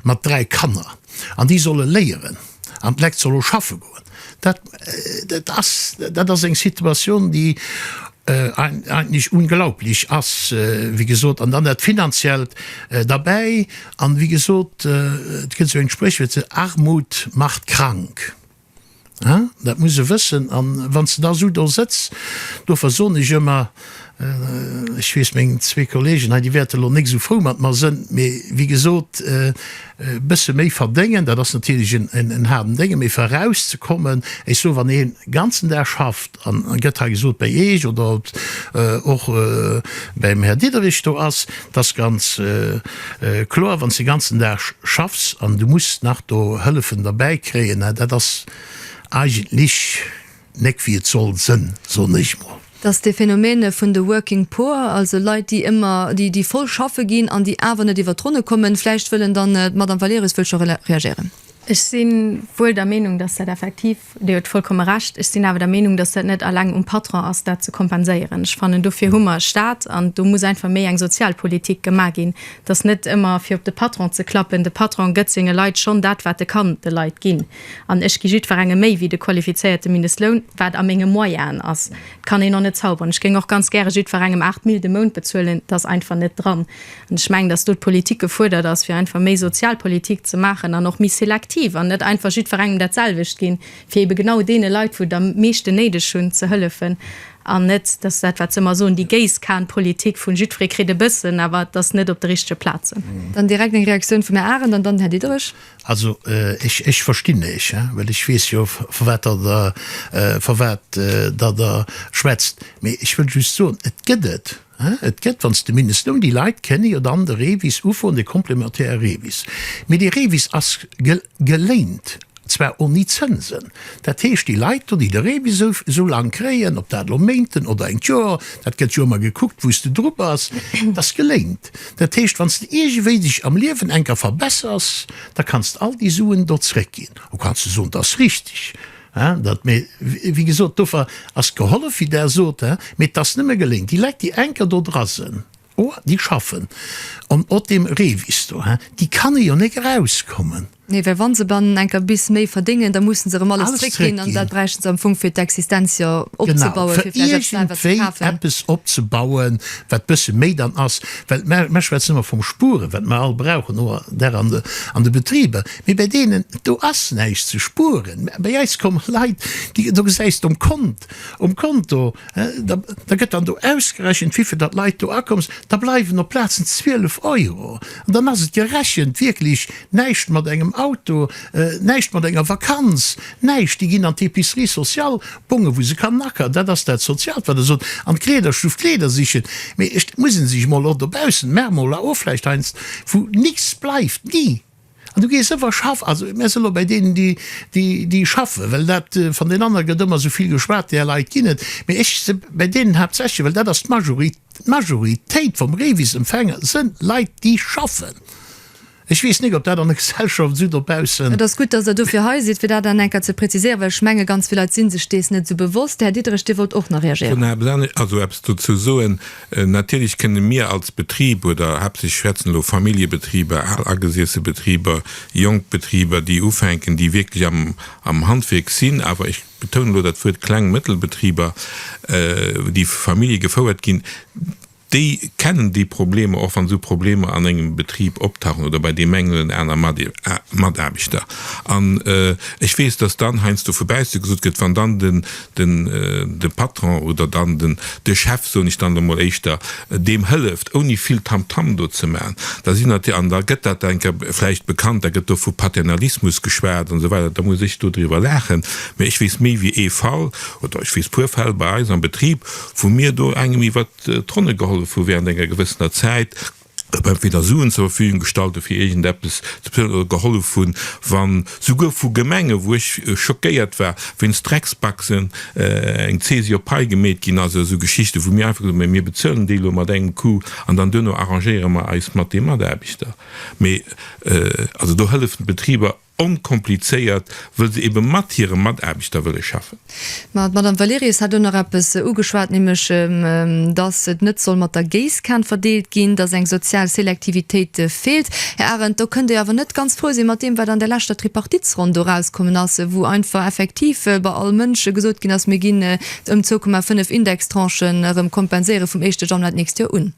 mat dräi Kanner an déi solle léieren an d'Lekt solle schaffe goen. Dat ass eng Situatioun, déi Eigentlich unglaublich ass, wéi gesot, an dann dat Finanziellt derbäi. An, wéi gesot, et gëtt esou eng Spréchwuert, se Armut macht krank. Haa, dat muss e wëssen. An wann s de da esou do sëtz, do versoen ech ëmmer, ech weess, meng zwee Kollegen hei, déi wäerte lo néck esou frou mat mer sënn, mee, wéi gesot, e bësse méi verdéngen, dat ass natierlech en haarden Déngen, mee fir erauszekommen, ech soe wann ee ganzen Dag schafft, An et gëtt hei gesot, bei Eech oder et och beim Här Diderich do ass, et ass ganz kloer, wann s de de ganzen Dag schaffs an du muss nach do Hëllefen derbäikréien, dat ass eigentlech net wéi et soll sënn, soen ech mol. Datt de Phénomène vun de working poor, also Leit, déi ëmmer, déi, déi voll schaffe ginn an déi awer net iwwer d'Ronne kommen, vläicht wëllen dann, d'Madame Valerius wëll scho reagéieren. Ech si wuel der Meenung, datt dat effektiv Dir hutt vollkomme Recht. Ech sinn awer der Meenung, dass dat net alleng um Patron ass, dat ze kompenséieren. Ech fannen, dofir hu mer e Stat an do muss einfach méi eng Sozialpolitik gemaach ginn. Et ass net ëmmer, fir op de Patron ze klappen. De Patron gëtt senge Leit schonn dat, wat e kann de Leit ginn. An ech gi jiddwerengem méi wéi de qualifizéierte Mindestloun, wat a menge Moyennen ass. Et kann een och net zauberen. Ech géing och ganz gäre jiddwerengem 8 Mille de Mount bezuelen. Dat ass einfach net dran. An ech mengen, dass do d'Politik gefuerdert ass, fir einfach méi Sozialpolitik ze maachen an och méi selektiv an net einfach jiddwerengem dat selwecht ginn, fir ebe genau deene Leit, wou et am meeschten néideg hunn, ze hëllefen an net, dass dat, wat se ëmmer soen, déi Géisskanpolitik vun jiddweree kritt e bëssen, awer et ass net op de richtege Plazen. Dann direkt eng Reaktioun vum Här Arendt an dann Här Diderich. Also, ech verstinn Iech, well ech weess jo, vu wat Der der, vu wat Der der schwätzt. Mee ech wëll just soen, et gëtt et. Et gëtt, wann s de mindes, nom déi Leit kenne jo dann de Revis ufroen, de complémentaire Revis. Mee dee Revis ass geléint, zwar oni Zënsen. Dat heescht, déi Leit do, déi de Revis esou laang kréien, ob dat elo Méinten oder engt Joer, dat gëtt jo ëmmer gekuckt, wou s de dru bass, dat ass geléint. Dat heescht, wann s de iergendwéi dech am Liewen enker verbessers, da kanns de all déi Suen do zréckginn. Lo kanns de soen, 't ass richtig. Hein, dat, mee wéi gesot, dofer ass gehollef, wéi Der sot, hein, mee et ass nëmme geléngt. Déi Leit, déi enker do dra sen, oh, déi schaffen en ot deem Revis do, hein, déi kannen jo néck erauskommen. Nee, well wa se dann enker bis méi verdéngen, da mussen se erëm alles Alles zréckginn an zréckginn. dat bräichten se am Fong fir d'Existenz jo Genau, opzebauen, fir fir vläicht eppes nei wat ze iergendwéi kafen. eppes opzebauen, wat bësse méi dann ass. Well mer, mer schwätzen ëmmer vum Spueren, wat mer all brauchen, oder an de, an de Betriber. Mee bei deenen do ass näischt ze spueren. Mä bei eis kommen Leit, déi, do gesäis de um Kont, um Konto, da, da gëtt dann do ausgerechent, wéivill datt Leit do akomm sinn, da bleiwen op plazen 12 Euro. An dann ass et gerechent wierklech näischt mat engem Auto, näischt mat enger Vakanz, näischt. Déi ginn an d'Epicerie sociale, Bonge wou se kann nackeren, dat ass dat Soziaalt, wat Der sot, an d'Kleederstuff Kleeder sichen. Mee et muss ee sech emol och dobaussen, mer emol la ofläicht heiansdo, wou nix bleift, ni! An du gees ëmmer schaffen. Also mir sinn elo bäi deenen, déi schaffen, well dat van den aner gëtt ëmmer esou vill geschwat, där Leit ginn et, mee ech si bäi deenen haaptsächlech, well dat ass d'Majoritéit vum Revis-Empfänger, sënn Leit, déi schaffen. Ech weess nik, ob dat an der Gesellschaft esou dobaussen. Et ass gutt, dass Der dofir hei sidd, fir dat dann eng Kéier ze präziséieren, well ech menge ganz vill Leit si sech dees net esou bewosst. De Här Diderich, Dir wollt och nach reagéieren. Natierlech kënne mir als Betrib, oder haaptsächlech schwätzen elo Familljebetriber, al agesiesse Betriber, jonk Betriber, déi ufänken, déi wierklech am Handwierk sinn, awer ech betounen elo dat Wuert kleng a mëttel Betriber, déi vu Famillje gefouert ginn, déi kennen déi Problemer, och wann esou Problemer an engem Betrib optauchen oder bei deem engen oder anere Mataarbechter. An ech weess, dass dann heiansdo vu bausse gesot gëtt, wann dann den de Patron oder dann den de Chef, soen ech dann der emol éischter, deem hëlleft, ouni vill Tamtam do ze maachen. Da sinn natierlech, an da gëtt dat enke vläicht bekannt, da gëtt do vu Paternalismus geschwat an esou weider, da muss ech do driwwer laachen, mä ech weess méi wéi ee Fall, oder ech weess puer Fäll bei eis am Betrib, wou mir do engem iwwert d'Ronne gehollef hu während enger gewëssener Zäit, datt mer entweder Suen zur Verfügung gestallt hu fir iergendeppes ze bezuelen oder gehollef hunn, wann souguer vu Gemengen, wou ech schockéiert war, wéinst Drecksbaxen eng Zesi op d'Pai gemeet ginn ass, esou Geschichten, wou mir einfach gesot hunn, mä mir bezuelen déi elo mat engem Coup an dann duerno arrangéiere mer eis mat de Mataarbechter. Mee also do hëllefen d'Betriber Onkomplizéiert, wëll se ebe mat hire Mataarbechter wëlle schaffen. Ma d'Madame Valerius hat elo nach eppes ugeschwat, nämlech datt et net soll mat der Géisskan verdeelt ginn, datt eng sozial Selektivitéit feelt. Här Arendt, do kënnt Dir awer net ganz frou sinn mat deem, wat an där leschter Tripartitsronn do erauskommen ass, wou einfach effektiv bei all Mënsch gesot ginn ass, mir ginn ëm 2,5 Indextranchen erëm kompenséiere vum éischte Januar d'nächst Joer un.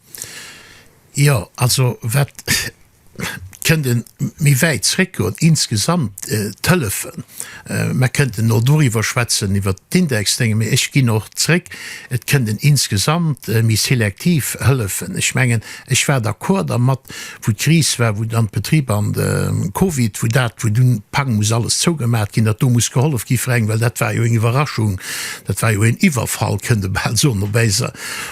Jo, also wat. kënnt e méi wäit zréckgoen, insgesamt d'Hëllefen. Mer kënnten och doriwwer schwätzen, iwwer d'Indexdénge, mee ech ginn och zréck, et kënnt en insgesamt méi selektiv Hëllefen. Ech mengen, ech war d'accord dermat, wou d'Kris war, wou dann d'Betriber an de Covid, wou dat, wou dunn pang muss alles zougemaacht ginn, datt do muss gehollef gi fir eng, well dat war jo eng Iwwerraschung, dat war jo een Iwwerfall, kënnt e bal soen, op eis,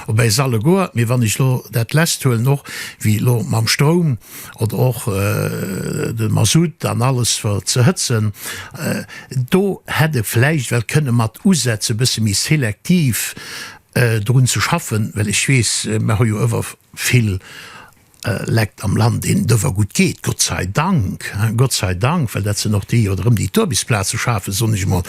op eis alleguer. Mee wann ech elo dat Lest huelen, och wéi elo mam Stroum oder och de Mazout an alles fir ze hëtzen, do hätt e vläicht well kënne mat usetze bësse méi selektiv drun ze schaffen, well ech weess, mer hu jo ëwer vill Lekt am Land, deenen et ëwer gutt geet, Gott sei Dank, Gott sei Dank, well dat sinn och déi oder rëm déi d'Uarbechtsplaze schafen, soen ech emol.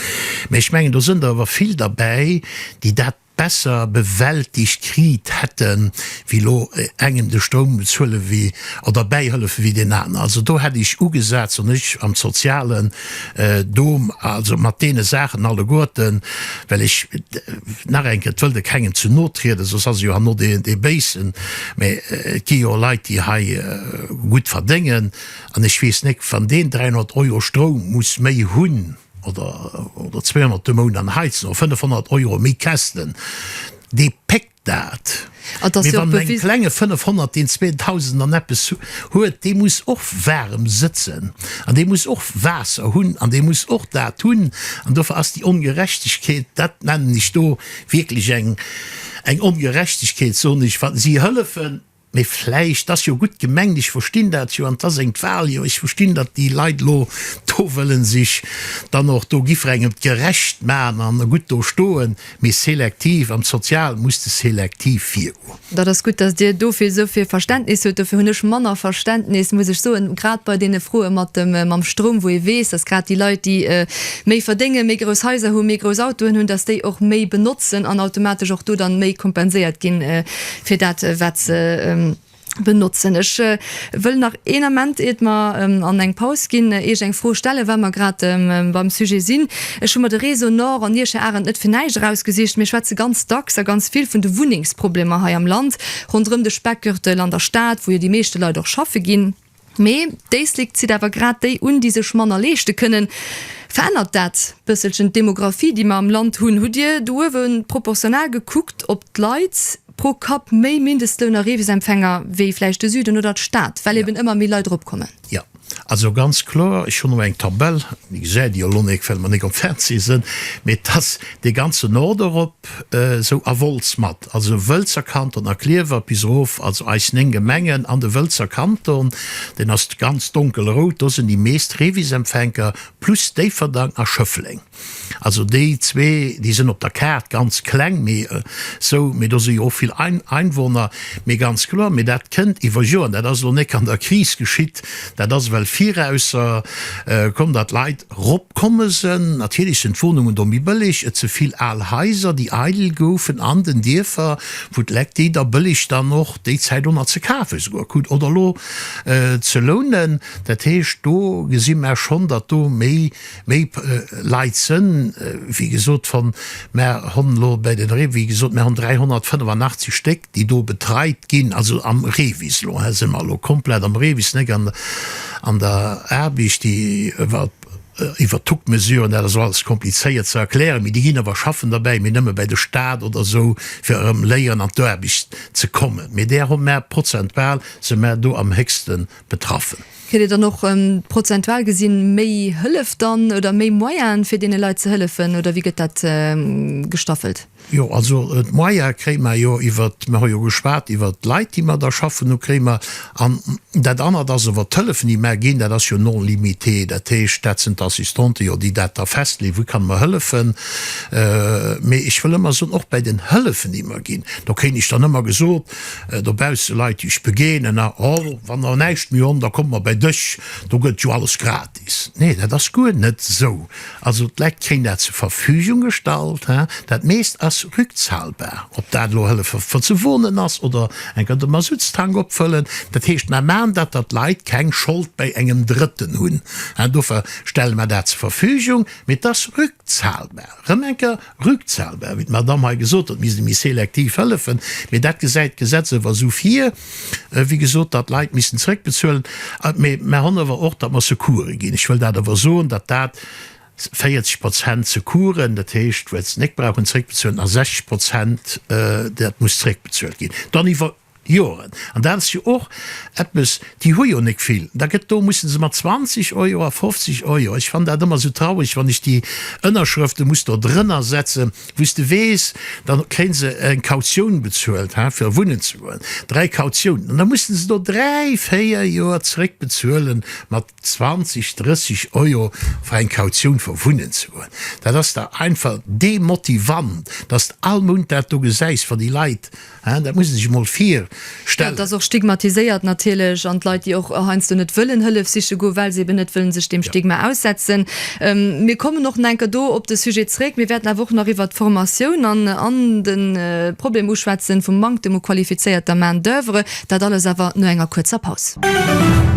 Mä ech mengen, do sënn der ëwer vill derbäi, déi dat besser bewältigt kriit hätten, wéi elo engem de Stroum bezuelen wéi oder bäihëllefen wéi deen aner. Also do hätt ech ugesat, wann ech am sozialen Dom, also mat deene Saachen alleguerten, well ech, nach eng Kéier, et wëll de kengem zu no trieden, soss ass e jo herno dee dee Béisen, mä et gi jo Leit déi hei gutt verdéngen an ech weess net, wann deen 300 Euro Stroum muss méi hunn, oder 200 de Mount an heizen oder 500 Euro méi käschten, dee péckt dat. Mee wann e klenge 500, deen 2.000 an eppes huet, dee muss och waarem sëtzen an dee muss och Waasser hunn an dee muss och dat hunn. An dofir ass déi Ongerechtegkeet, dat nennen ech do wierklech eng Ongerechtegkeet, soen ech. Si hëllefen. Mee vläicht, ass jo gutt gemengt, ech verstinn dat jo, an et ass eng d'Wahl, jo, ech verstinn, datt déi Leit elo do wëllen sech dann och do giffrengem gerecht man an gutt do stoen, mee selektiv, am Sozialen muss de selektiv virgoen. Dat ass gutt, datt Dir dofir esou vill Verständnis hutt. Dofir hunn ech manner Verständnis, muss ech soen, grad bei deene Froe mat dem, mam Stroum, wou ee weess, datt grad déi Leit, déi méi verdéngen, méi grouss Haiser hunn, méi grouss Autoen hunn, datt déi och méi benotzen an automatesch och do dann méi kompenséiert ginn. fir dat wat se benotzen. Ech wëll nach een Ament iert mer an eng Paus ginn, Iech eng Fro stellen, wa mer grad beim Sujet sinn. Ech hu mer de Réseau Nord an Iech, Här Arendt, net fir näischt erausgesicht. Mir schwätze ganz dacks a ganz vill vun de Wunnengsproblemer hei am Land, ronderëm de Speckgürtel an der Stad, wou jo déi meeschte Leit och schaffe ginn. Mee d'Éislek zitt awer grad déi un, déi sech manner leeschte kënnen. Verännert dat bësselchen d'Demographie, déi mer am Land hunn? Hutt Dir do uewe proportional gekuckt, ob d'Leit pro Kapp méi Mindestlounareebesempfänger wéi vläicht de Süden oder d'Stad, well eeben ëmmer méi Leit erop kommen? Jo. Also ganz kloer, ech hunn elo eng Tabell, Dir gesäit déi jo elo nik, well mer nik op Fernseh sinn, mee et ass dee ganzen Nord erop esou a Wolz mat. also Wëlzer Kanton a Klierwer bis erof, also eis 9 Gemengen an de Wëlzer Kanton, deen ass ganz donkelrout, do sinn déi meescht Revis-Empfänker, plus Déifferdang a Schëffleng. Also déi zwee, déi sinn op der Kaart ganz kleng, mee esou, mee do si jo och vill Einwohner. Mee ganz kloer, mee dat kënnt iwwer Joren, dat ass elo nek an der Kris geschitt, dat ass well virausser komm, datt d'Leit, Rop komme se. Natierlech sen d'Wonungen do méi bëlleg, et se vill al Haiser déi eidel goufen an den Dierfer wou d'Leck déi da bëlleg dann och déi Zäit och nach ze kafe souguer krut oder lo ze lounen. Dat heescht do gesi maer schonn datt do méi méi Leit sen. Wéi gesot wann maer honn lo bei den, wéi gesot maer honn 385 Stéck. déi do betreit ginn, also am REVIS, elo si mer elo komplett am REVIS, net an der Aarbicht, déi iwwert d'Tucktmesuren, dat ass elo alles komplizéiert ze erklären, mee déi ginn awer schaffen derbäi, mee nëmme bäi de Stat oder esou, fir erëm léieren an d'Aarbicht ze kommen. Mee där hu mer, prozentual si mer do am héchste betraffen. Kritt Dir dann och prozentual gesi méi Hëllef dann oder méi Moyene fir deene Leit ze hëllefen oder wéi gëtt dat gestaffelt? Jo, also d'Moyen kréie mer jo iwwer, mer hu jo geschwat iwwer d'Leit, déi mer da schaffen hunn, kréie mer. An dat anert ass iwwer d'Hëllefen, déi mer ginn. Dat ass jo non limité. Dat heescht, dat sinn d'Assistante jo, déi dat da festleeën, Wie kann mer hëllefen? Mee ech wëll ëmmer soen, och bäi den Hëllefen, déi mer ginn, do kréien ech dann ëmmer gesot dobausse, Leit, déi ech begéinen, Oh, wann der näischt méi honn, da kommt mer bäi dech, do gëtt jo alles gratis. Nee, dat ass guer net esou. Also d'Leit kréien dat zur Verfügung gestallt. Dat meescht ass rückzahlbar, ob dat elo Hëllefe fir ze wonen ass oder enker de Masuttstank opfëllen. Dat heescht, mer maachen dat, datt d'Leit keng Schold bei engem Drëtten hunn. Dofir stelle mer dat zur Verfügung, mee et ass rückzahlbar. Erëm enker, rückzahlbar, wéi d'Madamm hei gesot huet, misst ee méi selektiv hëllefen, mee dat gesäit d'Gesetz ëwer esou vir, wéi gesot, datt Leit missten zrëckbezuelen. Mee mer han ëwer och, datt mer Secourse ginn. Ech wëll dat ëwer soen, datt dat 40 Prozent Secoursen, dat heescht, wou se net brauchen zrëckbezuelen, a 60 Prozent, dat muss zrëckbezuelt ginn. Dann iwwer. Joren. An dat ass jo och eppes, déi hu jo nek vill. Da gëtt do, musse se mat 20 Euro a 50 Euro, ech fann dat ëmmer esou traureg, wann ech déi Ënnerschrëfte muss do drënner setze wou s de weess, da kréie se eng Kautioun bezuelt, ha, fir wunnen ze goen, dräi Kautiounen. An da musse se do dräi, véier Joer zréck bezuele mat 20, 30 Euro fir eng Kautioun fir wunnen ze goen. Dat ass da einfach demotivant, datt s de all Mount dat do gesäis, wa déi Leit, Dat muss ee sech emol virstellen. Et ass och stigmatiséiert natierlech an d'Leit, déi och heiansdo net wëllen Hëllef siche goen, well se eben net wëllen sech deem Stigma aussetzen. Mir kommen och nach enker do op de Sujet zréck. Mir wäerten awer och nach iwwert d'Formatioun an an de Problem uschwätzen vum Manktem u qualifizéierter Main d'oeuvre. Dat alles awer no enger kuerzer Paus.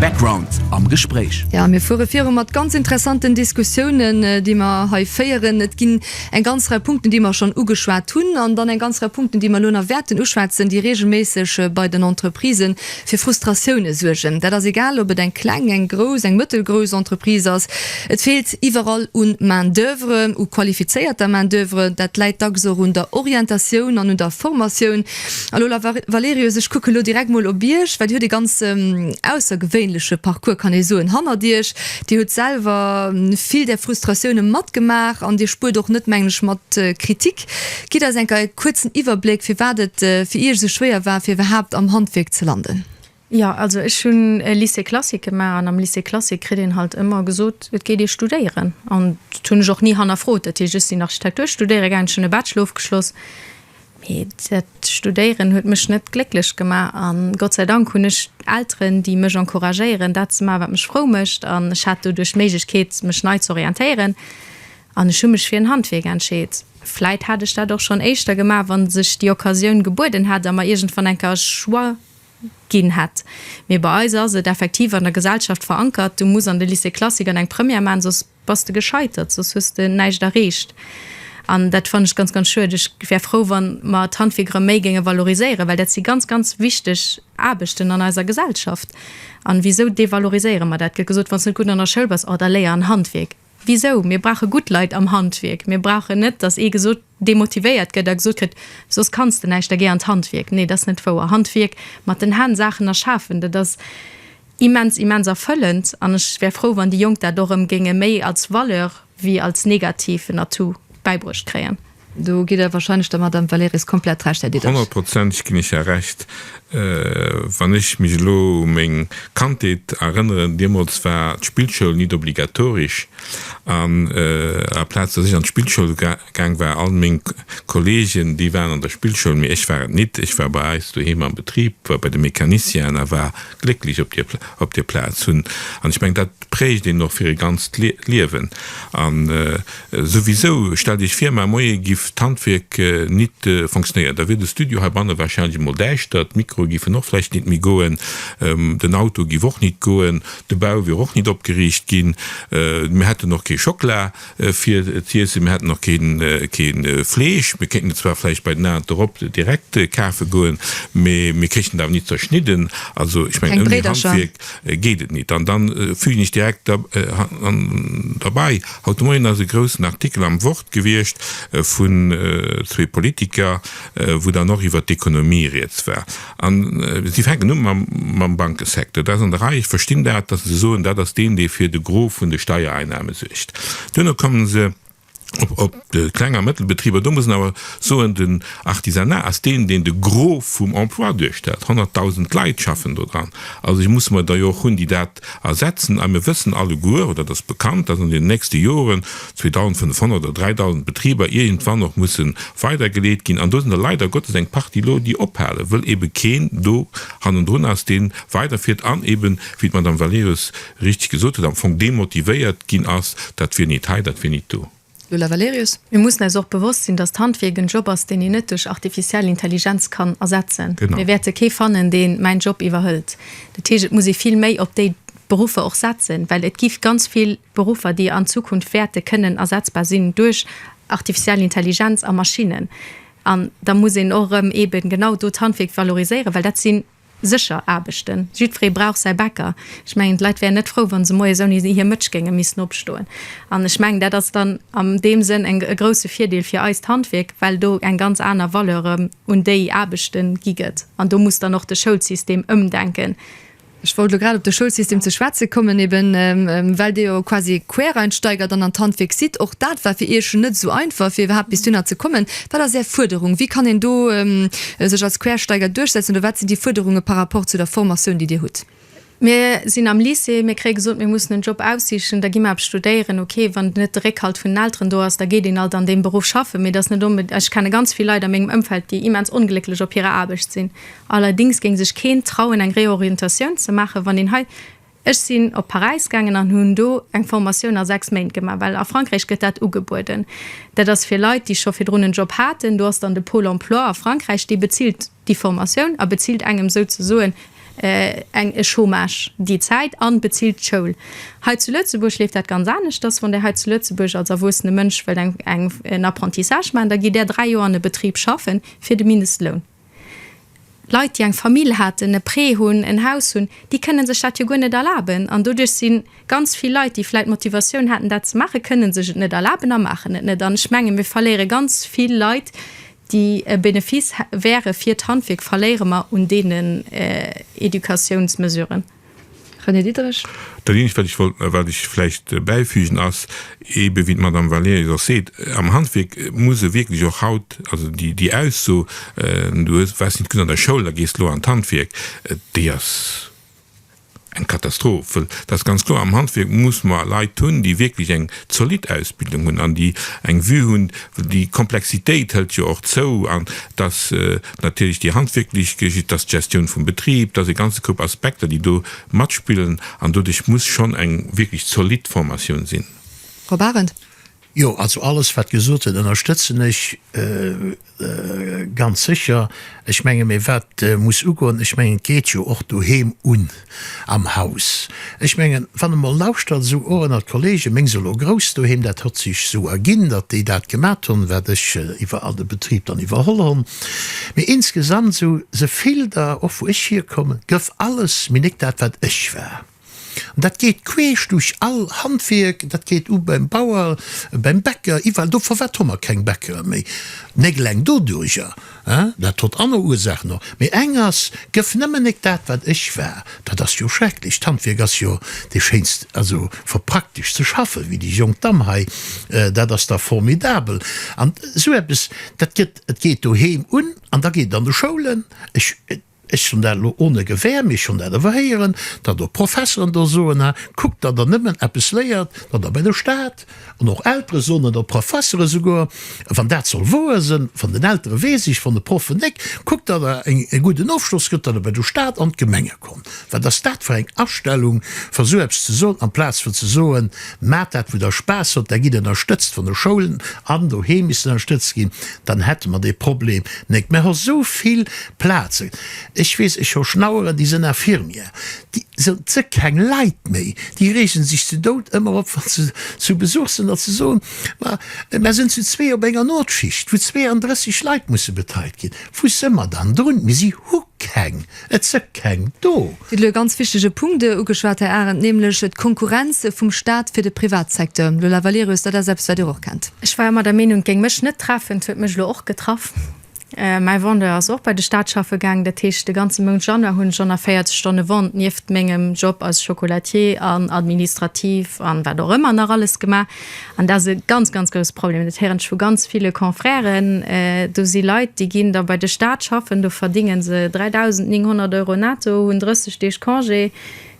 Background am Gespréich. Jo, mir fuere viru mat ganz interessanten Diskussiounen, déi mer hei féieren. Et ginn. Eng ganz Rei Punkten, déi mer schonn ugeschwat hunn, an dann eng ganz Rei Punkten, déi mer elo nach wäerten uschwätzen, déi reegelméisseg bei den Entreprisë fir Frustratioune suergen. Dat ass egal, ob et eng kleng, eng grouss, eng mëttelgrouss Entreprise ass. Et feelt iwwerall u Main d'oeuvre, u qualifizéierter Main d'oeuvre. Dat läit dacks och un der Orientatioun an un der Formatioun. A Lola Valerius, ech kucken elo direkt mol op Iech, well Dir hutt e ganz aussergewéinleche Parcours, kann ee soen, hannert Iech. Dir hutt selwer vill där Frustratioune matgemaach an Dir spuert och net, mengen ech, mat Kritik. Gitt eis enker e kuerzen Iwwerbléck, firwat et fir Iech esou schwéier war, fir iwwerhaapt am Handwierk ze landen. Jo, also ech hunn e Lycée classique gemaach an am Lycée classique kritt een halt ëmmer gesot, et geet ee studéieren. An dat hunn ech och ni hannerfrot. Dat heescht, ech sinn Architektur studéiere gaangen, ech hunn e Bachelor ofgeschloss. Mee dat Studéieren huet mech net glécklech gemaach. A Gott sei Dank hunn ech Elteren, déi mech encouragéieren, dat ze maachen, wat mech frou mécht. An ech hat doduerch d'Méiglechkeet, mech nei ze orientéieren. An ech hu mech fir en Handwierk entscheet. Vläit hätt ech dat och schonn éischter gemaach, wa sech déi Occasioun gebueden hätt a mer iergendwann eng Kéier e Choix ginn hätt. Mee bei eis ass et effektiv an der Gesellschaft verankert, Du muss an de Lycée classique an eng Première maachen, soss Bass de gescheitert, soss hues de näischt erreecht. An dat fannen ech ganz, ganz schued. Ech wär frou, wa mer d'Handwierkere méi géinge valoriséieren, well dat si ganz, ganz wichteg Aarbechten an eiser Gesellschaft. A wisou devaloriséiere mer dat? Et gëtt gesot, wann s de net gutt an der Schoul bass, oh da léier an Handwierk. Wisou? Mir brauche gutt Leit am Handwierk. Mir brauchen net, datt ee gesot, demotivéiert gëtt a gesot kritt, soss kanns de näischt, da géi an d'Handwierk. Nee, dat ass net wouer. Handwierk, mat den Hänn Saachen erschafen, dat ass. Immens, immens erfëllend an ech wär frou wann déi Jonk dat och erëm géinge méi als Valeur wéi als negativen Atout bäibruecht kréien. Do gitt Der wahrscheinlech der Madame Valerys komplett Recht, Här Diederich. Honnertprozenteg ginn ech Är Recht. Wann ech mech elo u meng Kandheet erënneren, deemools war d'Spillschoul nit obligatorisch an à la Plaz dass ech an d'Spillschoul gaang war. All meng Kollegen, déi waren an der Spillschoul, mee ech war et nit. Ech war bei eis doheem am Betrib, war bei de Mécanicien'en a war glécklech op dir, op dir Plaz. Hunn, an ech meng, dat prägt een och fir e ganzt Lie, Liewen. An souwisou, stellt iech vir, mar Moie giff d'Handwierk nit fonctionnéieren, da wier de Studio heibanne wahrscheinlech emol däischter, d'Mikroe giffen och vläicht nit méi goen, den Auto giff och nit goen, de Bau wier och nit opgeriicht ginn, mir hätten och kee Schokla. fir z'iessen. Mir hätten och kee Fleesch. Mir kéinten et zwar vläicht bei den Aen dorop direkt kafe goen, mee mir kréichten et awer nit zerschnidden. Also, ech mengen, ouni Handwierk geet et nit. An da fügen ech direkt derbei, Haut de Moien ass e groussen Artikel am Wort gewiescht vun zwee Politiker, wou dann och iwwert d'Ekonomie rieds war. An si fänken u mam Bankesecteur. Dat ass an der Rei. Ech verstinn dat, datt se soen, dat ass deen, dee fir de Gros vun de Steiereinnahmen suergt. Duerno komme se op de Kleng a Mëttelbetriber. Do muss een awer soen, den Artisanat ass deen, deen de Gros vum Emploi duerstellt. Honnerttausend Leit schaffen do dran. Also ech muss mer der jo och hunn, déi dat Effekt ersetzen. A mir wëssen alleguer, oder et ass bekannt, dass an den nächste Joren 2.500 oder 3.000 Betriber iergendwann och musse weidergeleet ginn. An do sinn der leider Gottes eng Partie elo, déi ophalen, wëll eebe keen do hannendrun ass, dee weiderfiert an eeben, wéi d'Madame Valerius richtig gesot huet, am Fong demotivéiert ginn ass, Dat wier nit hei, dat wier nit do. Lola Valerius, Mir mussen eis och bewosst sinn, datt d'Handwierk en Job ass, deen een net duerch artificiell Intelligenz kann ersetzen. Mir wäerte kee fannen, deen mäin Job iwwerhëlt. Dat heescht, et muss ee vill méi op déi Beruffer och setzen, well et gi ganz vill Beruffer, déi an Zukunft wäerte kënnen ersetzbar sinn duerch artificiell Intelligenz a Maschinnen. An da muss een och erëm eeben genau do d'Handwierk valoriséieren, well dat sinn, Sécher Aarbechten. Jiddweree brauch säi Bäcker. Ech mengen, d'Leit wären net frou, wa se moies ouni hir Mëtsch géinge missen opstoen. An ech mengen, dat ass dann an deem Sënn e grousse Virdeel fir eist Handwierk, well do eng ganz aner Valeur un déi Aarbechte gi gëtt. An do muss dann och de Schoulsystem ëmdenken. Ech wollt elo grad op de Schoulsystem ze schwätze kommen, eebe well Dir jo quasi Quereinsteiger dann an d'Handwierk sidd. Och dat war fir Iech net esou einfach, fir iwwerhaapt bis dohinner ze kommen. Wat ass Är Fuerderung? Wéi kann een do sech als Quersteiger duerchsetzen oder wat sinn déi Fuerderunge par rapport zu der Formatioun, déi Dir hutt? Mir sinn am Lycée, mir kréie gesot, mir mussen en Job aussichen, da gi mer eppes studéieren. Okay, wann net de Réckhalt vun den Elteren do ass, da geet een halt an deem Beruff schaffen. Mee et ass net onbe-, ech kenne ganz vill Leit a mengem Ëmfeld, déi immens onglécklech op hirer Aarbecht sinn. Allerdings géing sech keen trauen, eng Réorientatioun ze maachen, wann een hei, Ech sinn op Paräis gaangen an hunn do eng Formatioun a 6 Méint gemaach, well a Frankräich gëtt dat ugebueden. Dat ass fir Leit, déi scho virdrun en Job haten. Do ass dann de Pôle emploi a Frankräich, dee bezilt déi Formatioun a bezilt engem souzesoen eng e Chômage déi Zäit a bezilt d'Schoul. Hei zu Lëtzebuerg leeft dat ganz aneschters. Wann Dir hei zu Lëtzebuerg als erwuessene Mënsch wëllt eng en Apprentissage maachen, da gitt Där 3 Joer an e Betrib schaffen fir de Mindestloun. Leit, déi eng Famill haten, e Prêt hunn, en Haus hunn, déi kënne sech dat jo guer net erlaben. An doduerch si ganz vill Leit, déi vläicht d'Motivatioun haten, dat ze maachen, kënne sech et net erlaben a maachen et net. An ech menge mir verléiere ganz vill Leit, déi e Benefice wäre fir d'Handwierk, verléiere mer un deenen Educatiounsmesuren. René Diderich. Dat eenzegt, wat ech wollt, wat ech vläicht bäifügen, ass eebe wéi d'Madame Valerius och seet, am Handwierk muss e wierklech och haut, also déi Ausso, du waars net gutt an der Schoul a gees elo an d'Handwierk, déi ass eng Katastroph. Well et ass ganz kloer, am Handwierk muss mer Leit hunn, déi wierklech eng zolidd Ausbildung hunn an déi eng Vue hunn, well déi Komplexitéit hëlt jo och zou an dass, Natierlech déi handwierklech Geschicht, dass d'Gestioun vum Betrib, dass e ganze Koup Aspekter, déi do matspillen an doduerch muss schonn eng wierklech zolidd Formatioun sinn. Rob Arendt. Jo, also alles, wat gesot gëtt, ënnerstëtzen ech ganz sécher. Ech menge, mee wat muss ugoen, ech mengen, et geet jo och doheem un. Am Haus. Ech mengen, wann e mol lauschtert, esou och ënnert Kollegen, meng se elo grouss doheem, dat hott sech esou erginn, datt déi dat gemat hunn, wat ech iwwer all de Betrib dann iwwerholl hunn. Mee insgesamt, esou se vill der, och wou ech hierkommen, gëff alles méi nek dat, wat ech war. An dat geet queesch duerch all Handwierk, dat geet u beim Bauer, beim Bäcker, iwwerall do. Firwat hu mer keng Bäckerer méi? Négleng doduerjer, Hein, dat hott anner Ursachen och, mee eng ass, gëff nëmmen nek dat wat ech war. Dat ass jo schrecklech. D'Handwierk ass jo dee schéinst, also verpraktesch ze schaffen, wéi déi jonk Damm hei. Dat ass da formidabel. An esou eppes, dat gëtt, et geet doheem un an da geet et an de Schoulen. Ech. Ech hunn dat elo ohne Gewehr, mee ech hunn dat awer héieren, datt och Professeren do soen, ha, kuckt, datt Der nëmmen eppes léiert, datt Der bei de Staat, an och Eltere soen et, an d'Professere souguer, wann dat soll wouer sënn, van den Eltere weess ech, van de Proffen néck, kuckt, datt Der e gudden Ofschloss gëtt, datt Der bei de Staat an d'Gemenge kommt. Wat ass dat fir eng Astellung, fir esou eppes ze soen, amplaz fir ze soen, Maacht dat, wou Der Spaass hutt, da gitt ënnerstëtzt vun de Schoulen, an doheem misst ënnerstëtzt ginn, dann hätte mer dee Problem néck. Mer hu souvill Plazen, ech weess, ech hu Schnaueren, déi sënn infirmière, déi sënn ze keng Leit méi, déi reegen sech ze Doud ëmmer op, wann se zu Besuch sënn, datt se soen, ma mär sënn zu zwee op enger Notschicht, wou 32 Leit musse betreit ginn. Wou së mer dann drun? Mee si hu keng, et së keng do. Dir hutt elo e ganz wichtege Punkt ugeschwat, Här Arendt, nämlech d'Konkurrenz vum Stat fir de Privatsecteur. Lola Valerius, dat ass eppes, wat Dir och kennt. Ech war ëmmer der Meenung, et géing mech net treffen, et huet mech elo och getraff. Mäi Vendeur ass och bei de Staat schaffe gaang. Dat heescht, de ganze Mount Januar hunn ech 140 Stonne Vente nieft mengem Job als Chocolatier an administrativ an wat och ëmmer nach alles gemaach. An dat ass e ganz, ganz grousse Problem. Dat héieren ech vu ganz ville Confrèren. Do si Leit, déi ginn da bei de Staat schaffen, do verdénge se 3.900 Euro netto, hunn 30 Deeg Congé,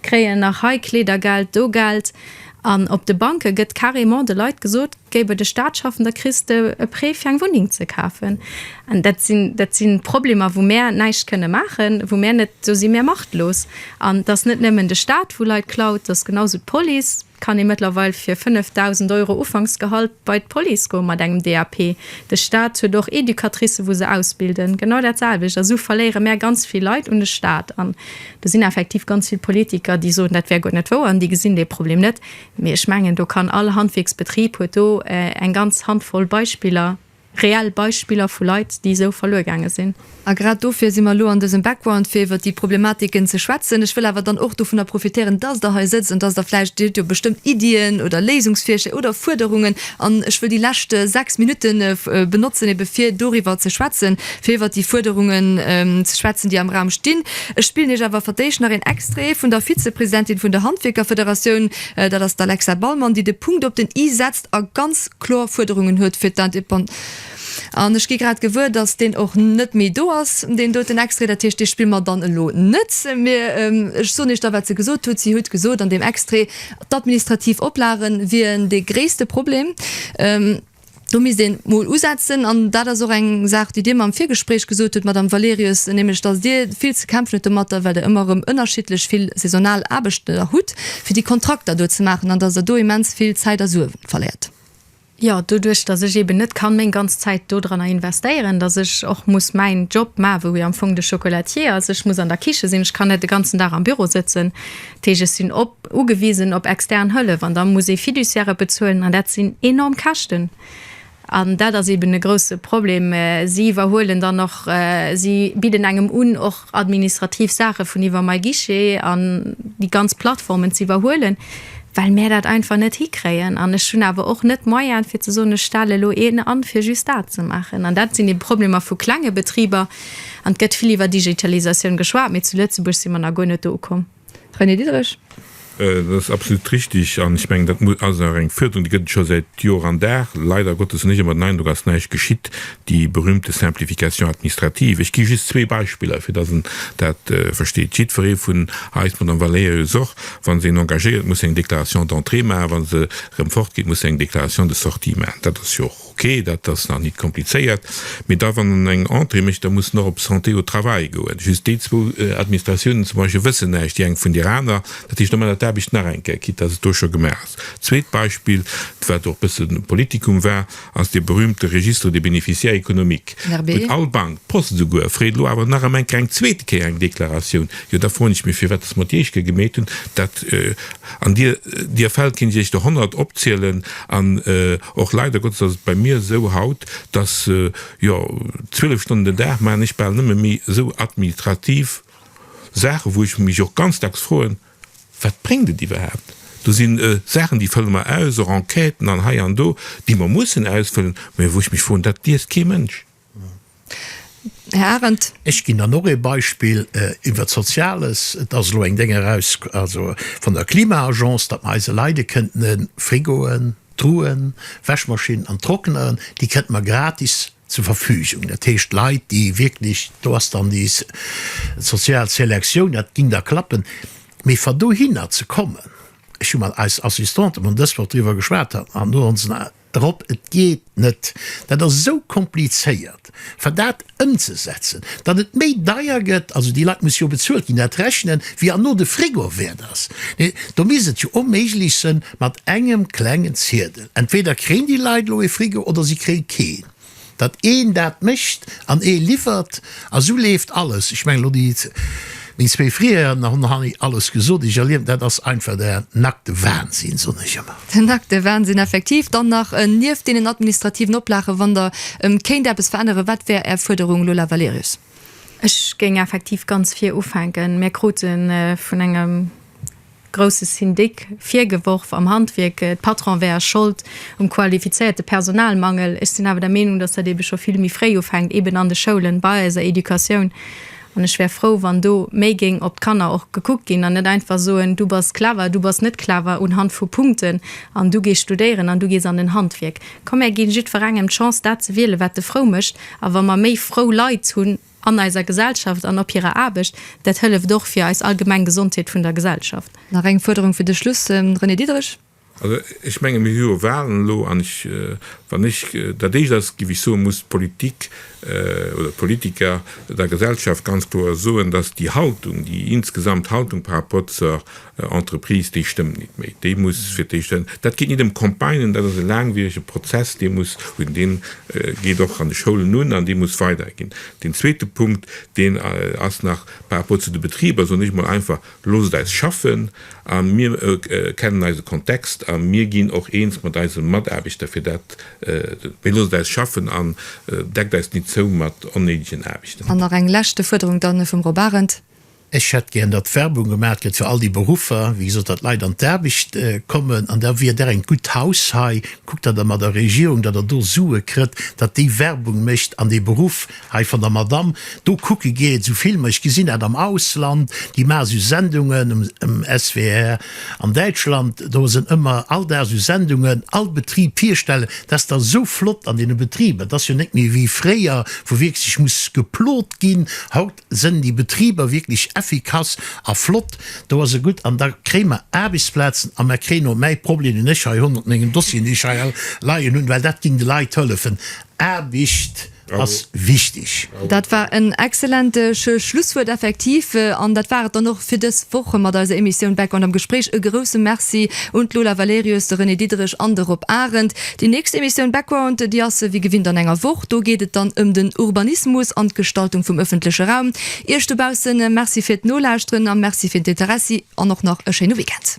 kréien nach hei Kleedergeld, do Geld. An op de Banke gëtt carrément de Leit gesot, géif et e Staatsschaffen, da kriss de e Prêt fir eng Wunneng ze kafen. An dat sinn, dat si Problemer, wou mär näischt kënne maachen, wou mär net, do si mär machtlos. An et ass net nëmmen de Staat, wou Leit klaut, et ass genausou d'Police. Et kann ee mëttlerweil fir 5.000 Euro Ufanksgehalt bei d'Police goen mat engem DAP. De Staat huet och Educatricen, wou se ausbilden, genau dat selwecht. A sou verléiere mär ganz vill Leit un de Staat. Do sinn effektiv ganz vill Politiker, déi soen, dat wär guer net wouer, an déi gesinn dee Problem net. Mee ech mengen, do kann all Handwierksbetrib huet do eng ganz Handvoll Beispiller, reell Beispiller vu Leit, déi esou verluer gaange sinn. A grad dofir si mer elo an dësem Background, fir iwwert déi Problematiken ze schwätzen. Ech wëll awer dann och dovunner profitéieren, dass Der hei sëtzt an dass Der vläicht, Dir hutt jo bestëmmt Iddien oder Léisungsvirschléi oder Fuerderungen, An ech wëll déi lescht sechs Minutte benotzen, ebe fir doriwwer ze schwätzen, fir iwwert déi Fuerderungen ze schwätzen, déi am Raum stinn. Ech spillen Iech awer fir d'éischt nach een Extrait vun der Vizepresidentin vun der Handwierkerfederatioun, dat ass d'Alexa Ballmann, déi de Punkt op den i setzt a ganz kloer Fuerderungen huet fir d'Independance. An ech gi grad gewuer, dass deen och net méi do ass, deen doten Extrait. Dat heescht, dee spille mer dann elo net méi. Ech soen Iech da, wat se gesot hutt. Si hutt gesot an deem Extrait, d'administrativ Oplage wieren dee gréisste Problem. Do misst een emol usetzen. An dat ass och eng Saach, déi Dir mer am Virgespréich gesot hutt, Madame Valerius, nämlech dass Dir vill ze kämpfen hutt domatter, well Der ëmmer erëm ënnerschiddlech vill saisonal Aarbechter hutt, fir déi Kontrakter do ze maachen, an dass Der do immens vill Zäit a Sue verléiert. Jo, doduerch datt ech eben net kann meng ganz Zäit dodranner investéieren, datt ech och muss mäin Job ma, wou am Fong de Chocolatier ass, ech muss an der Kiche sinn, ech kann net de ganzen Dag am Büro sëtzen, dat heescht ech sinn op, ugewisen op extern Hëllef an da muss ee Fiduciairë bezuelen an dat sinn enorm Käschten an dat ass eben e grousse Problem. Si iwwerhuelen dann och, si bidden engem un och. administrativ Saache vun iwwer MyGuichet an déi ganz Plattformen ze iwwerhuelen, well mär dat einfach net hikréien. An ech hunn awer och net d'Moyen, fir ze soen, ech stelle lo een an, fir just dat ze maachen. An dat sinn ebe Problemer vu klenge Betriber. An et gëtt vill iwwer Digitalisatioun geschwat, mee zu Lëtzebuerg si mer nach guer net do ukomm. René Diederich. Dat ass absolut richtig. An ech mengen, dat ass och eng Fuerderung, déi gëtt et scho säit Jor an Dag. Leider Gottes hunn ech ëmmer den Eindrock, et ass näischt geschitt, déi berühmte Simplification administrative. Ech gi just zwee Beispiller, fir datt een dat versteet. Jiddweree vun eis, d'Madame Valerius och, wa se een engagéiert, muss eng Déclaration d'entrée maachen, wa se erëm fortgeet, muss se eng Déclaration de sortie maachen. Dat ass jo och. Ok, dat ass nach nit komplizéiert, mee da wann en eng Entrée mécht, da muss en och op Santé au travail goen. Just déi zwou Administratiounen zum Beispill wëssen näischt déi eng vun der aner. Dat heescht, da maacht der d'Aarbecht nach eng Kéier, quitte dass et do scho gemaach ass. Zweet Beispill, wat och e bësse Politikum war, ass dee berühmte Registre des bénéficiaires économiques, wou all Bank, d'Post esouguer, freet elo awer nach am Enker eng zweete Kéier eng Deklaratioun. Jo, da froen ech mech, firwat dass mer d'Jeeschke gemeet hunn, dat, An dir, dir fällt, kinnt iech der honnert opzielen, an och leider Gottes ass et bei mir esou haut, dass, jo, zwielef Stonnen den Dag maachen ech bal nëmme méi esou administrativ Saachen, wou ech mech och ganz dacks froen, Wat bréngt et iwwerhaapt? Do si Saachen, déi fëlle mer aus, och Enquêten an hei an do, déi mer mussen ausfëllen, mä wou ech mech froen, Dat liest kee Mënsch. Här Arendt. Ech ginn dann och ee Beispill iwwert d'Soziales. Et ass elo eng Déng eraus, also vun der Klima-Agence, datt mer eise Leit e kënnte Frigoen, Truhen, Wäschmaschinn an Trockner, déi kënnte mer gratis zur Verfügung. Dat heescht Leit, déi wierklech, do ass dann déi sozial Selektioun, dat géing da klappen. Mee fir dohinner ze kommen, ech hu mat eis Assistante vun dës Woch driwwer geschwat, an do hu se. Drop, et geet net, dat ass esou komplizéiert fir dat ëmzesetzen, datt et méi deier gëtt, also déi Leit musse jo bezuelt ginn, dat rechnen wéi an no de Frigo wäert ass. Do misst et jo onméiglech sënn mat engem klengen Ziedel, entweder kréien déi Leit elo ee Frigo oder si kréie keen. datt een dat mécht an ee liwwert a sou leeft alles. Ech mengen elo déi meng zwee Frieren hunn nach ni alles gesot. Ech erliewen, dat ass einfach de nackte Wahnsinn, soen ech ëmmer. Den nackte Wahnsinn, effektiv. Dann nach nieft deenen administrativen Oplagen, wann Der kéint eppes veränneren, wat wär Är Fuerderung, Lola Valerius? Ech géing effektiv ganz vir ufänken. Mir krute vun engem. grousse Syndic virgeworf am Handwierk, de Patron wär a Schold um qualifizéierte Personalmangel. Ech sinn awer der Meenung, datt dat eebe scho vill méi fréi ufänkt, eeben an de Schoulen, bei eiser Educatioun. An ech wär frou, wann do méi géing op d'Kanner och gekuckt ginn an net einfach soen, du bass clever, du bass net clever unhand vu Punkten an du gees studéieren an du gees an en Handwierk. Komm, mär ginn jiddwerengem d'Chance dat ze wielen, wat e frou mécht. A wa mer méi frou Leit hunn, An eiser Gesellschaft an op hirer Aarbecht. Dat hëlleft och fir eis allgemeng Gesondheet vun der Gesellschaft. Nach eng Fuerderung fir de Schluss, René Diederich. Also ech menge mir hu jo Wahlen elo an ech, wann ech, dat éischt ass, géif ech soen, muss d'Politik oder d'Politiker der Gesellschaft ganz kloer soen, datt déi Haltung, déi insgesamt Haltung par rapport zur Entreprise, déi stëmmt nit méi, déi muss fir d'éischt en, dat geet nit ëm Campagnen, dat ass e laangwierege Prozess, dee muss hunn, dee geet och an de Schoulen un an dee muss weiderginn. Deen zweete Punkt, deen ass nach par rapport zu de Betriber, soen ech emol einfach, loosst eis schaffen a mir kennen eise Kontext a mir ginn och eens mat eise Mataarbechter fir dat, mee loosst eis schaffen an deckt eis nit zou mat onnéidegen Aarbechten. An nach eng leschte Fuerderung dann vum Rob Arendt. Ech hätt gären, datt Werbung gemaach gëtt fir all déi Beruffer, wéi gesot, datt d'Leit an d'Aarbecht kommen. An da wier Der en gutt Haus hei, kuckt, datt Der mat der Regierung, datt Der do Sue kritt, datt déi Werbung mécht an dee Beruff hei vun der Madamm do kucke geet. Esou Filmer, ech gesinn dat am Ausland, déi maache esou Sendungen um SWR an Däitschland, do sinn ëmmer all Dag esou Sendungen, all Betrib virstellen. Dat ass da sou flott an deene Betriber, dat ass jo net méi wéi fréier, wou wierklech muss geplot ginn. Haut. Sënn déi Betriber wierklech effikass a flott, do ass e gutt an da kréie mer Aarbechtsplazen a mer kréien och mäi Problem, deen ech hei 109 Dossieren, déi ech hei all leien hunn, well dat géing de Leit hëllefen. Aarbecht ass wichtig. Dat war en exzellente Schlusswuert effektiv an dat war et dann och fir dës Woch mat eiser Emissioun Background am Gespréich. E grousse Merci un d'Lola Valerius, de René Diederich an de Rob Arendt. Déi nächst Emissioun Background, déi ass wéi gewinnt an enger Woch. Do geet et dann ëm den Urbanismus an d'Gestaltung vum ëffentleche Raum. Iech dobaussen, Merci fir d'Nolauschteren a Merci fir d'Interessi an och nach e schéine Weekend.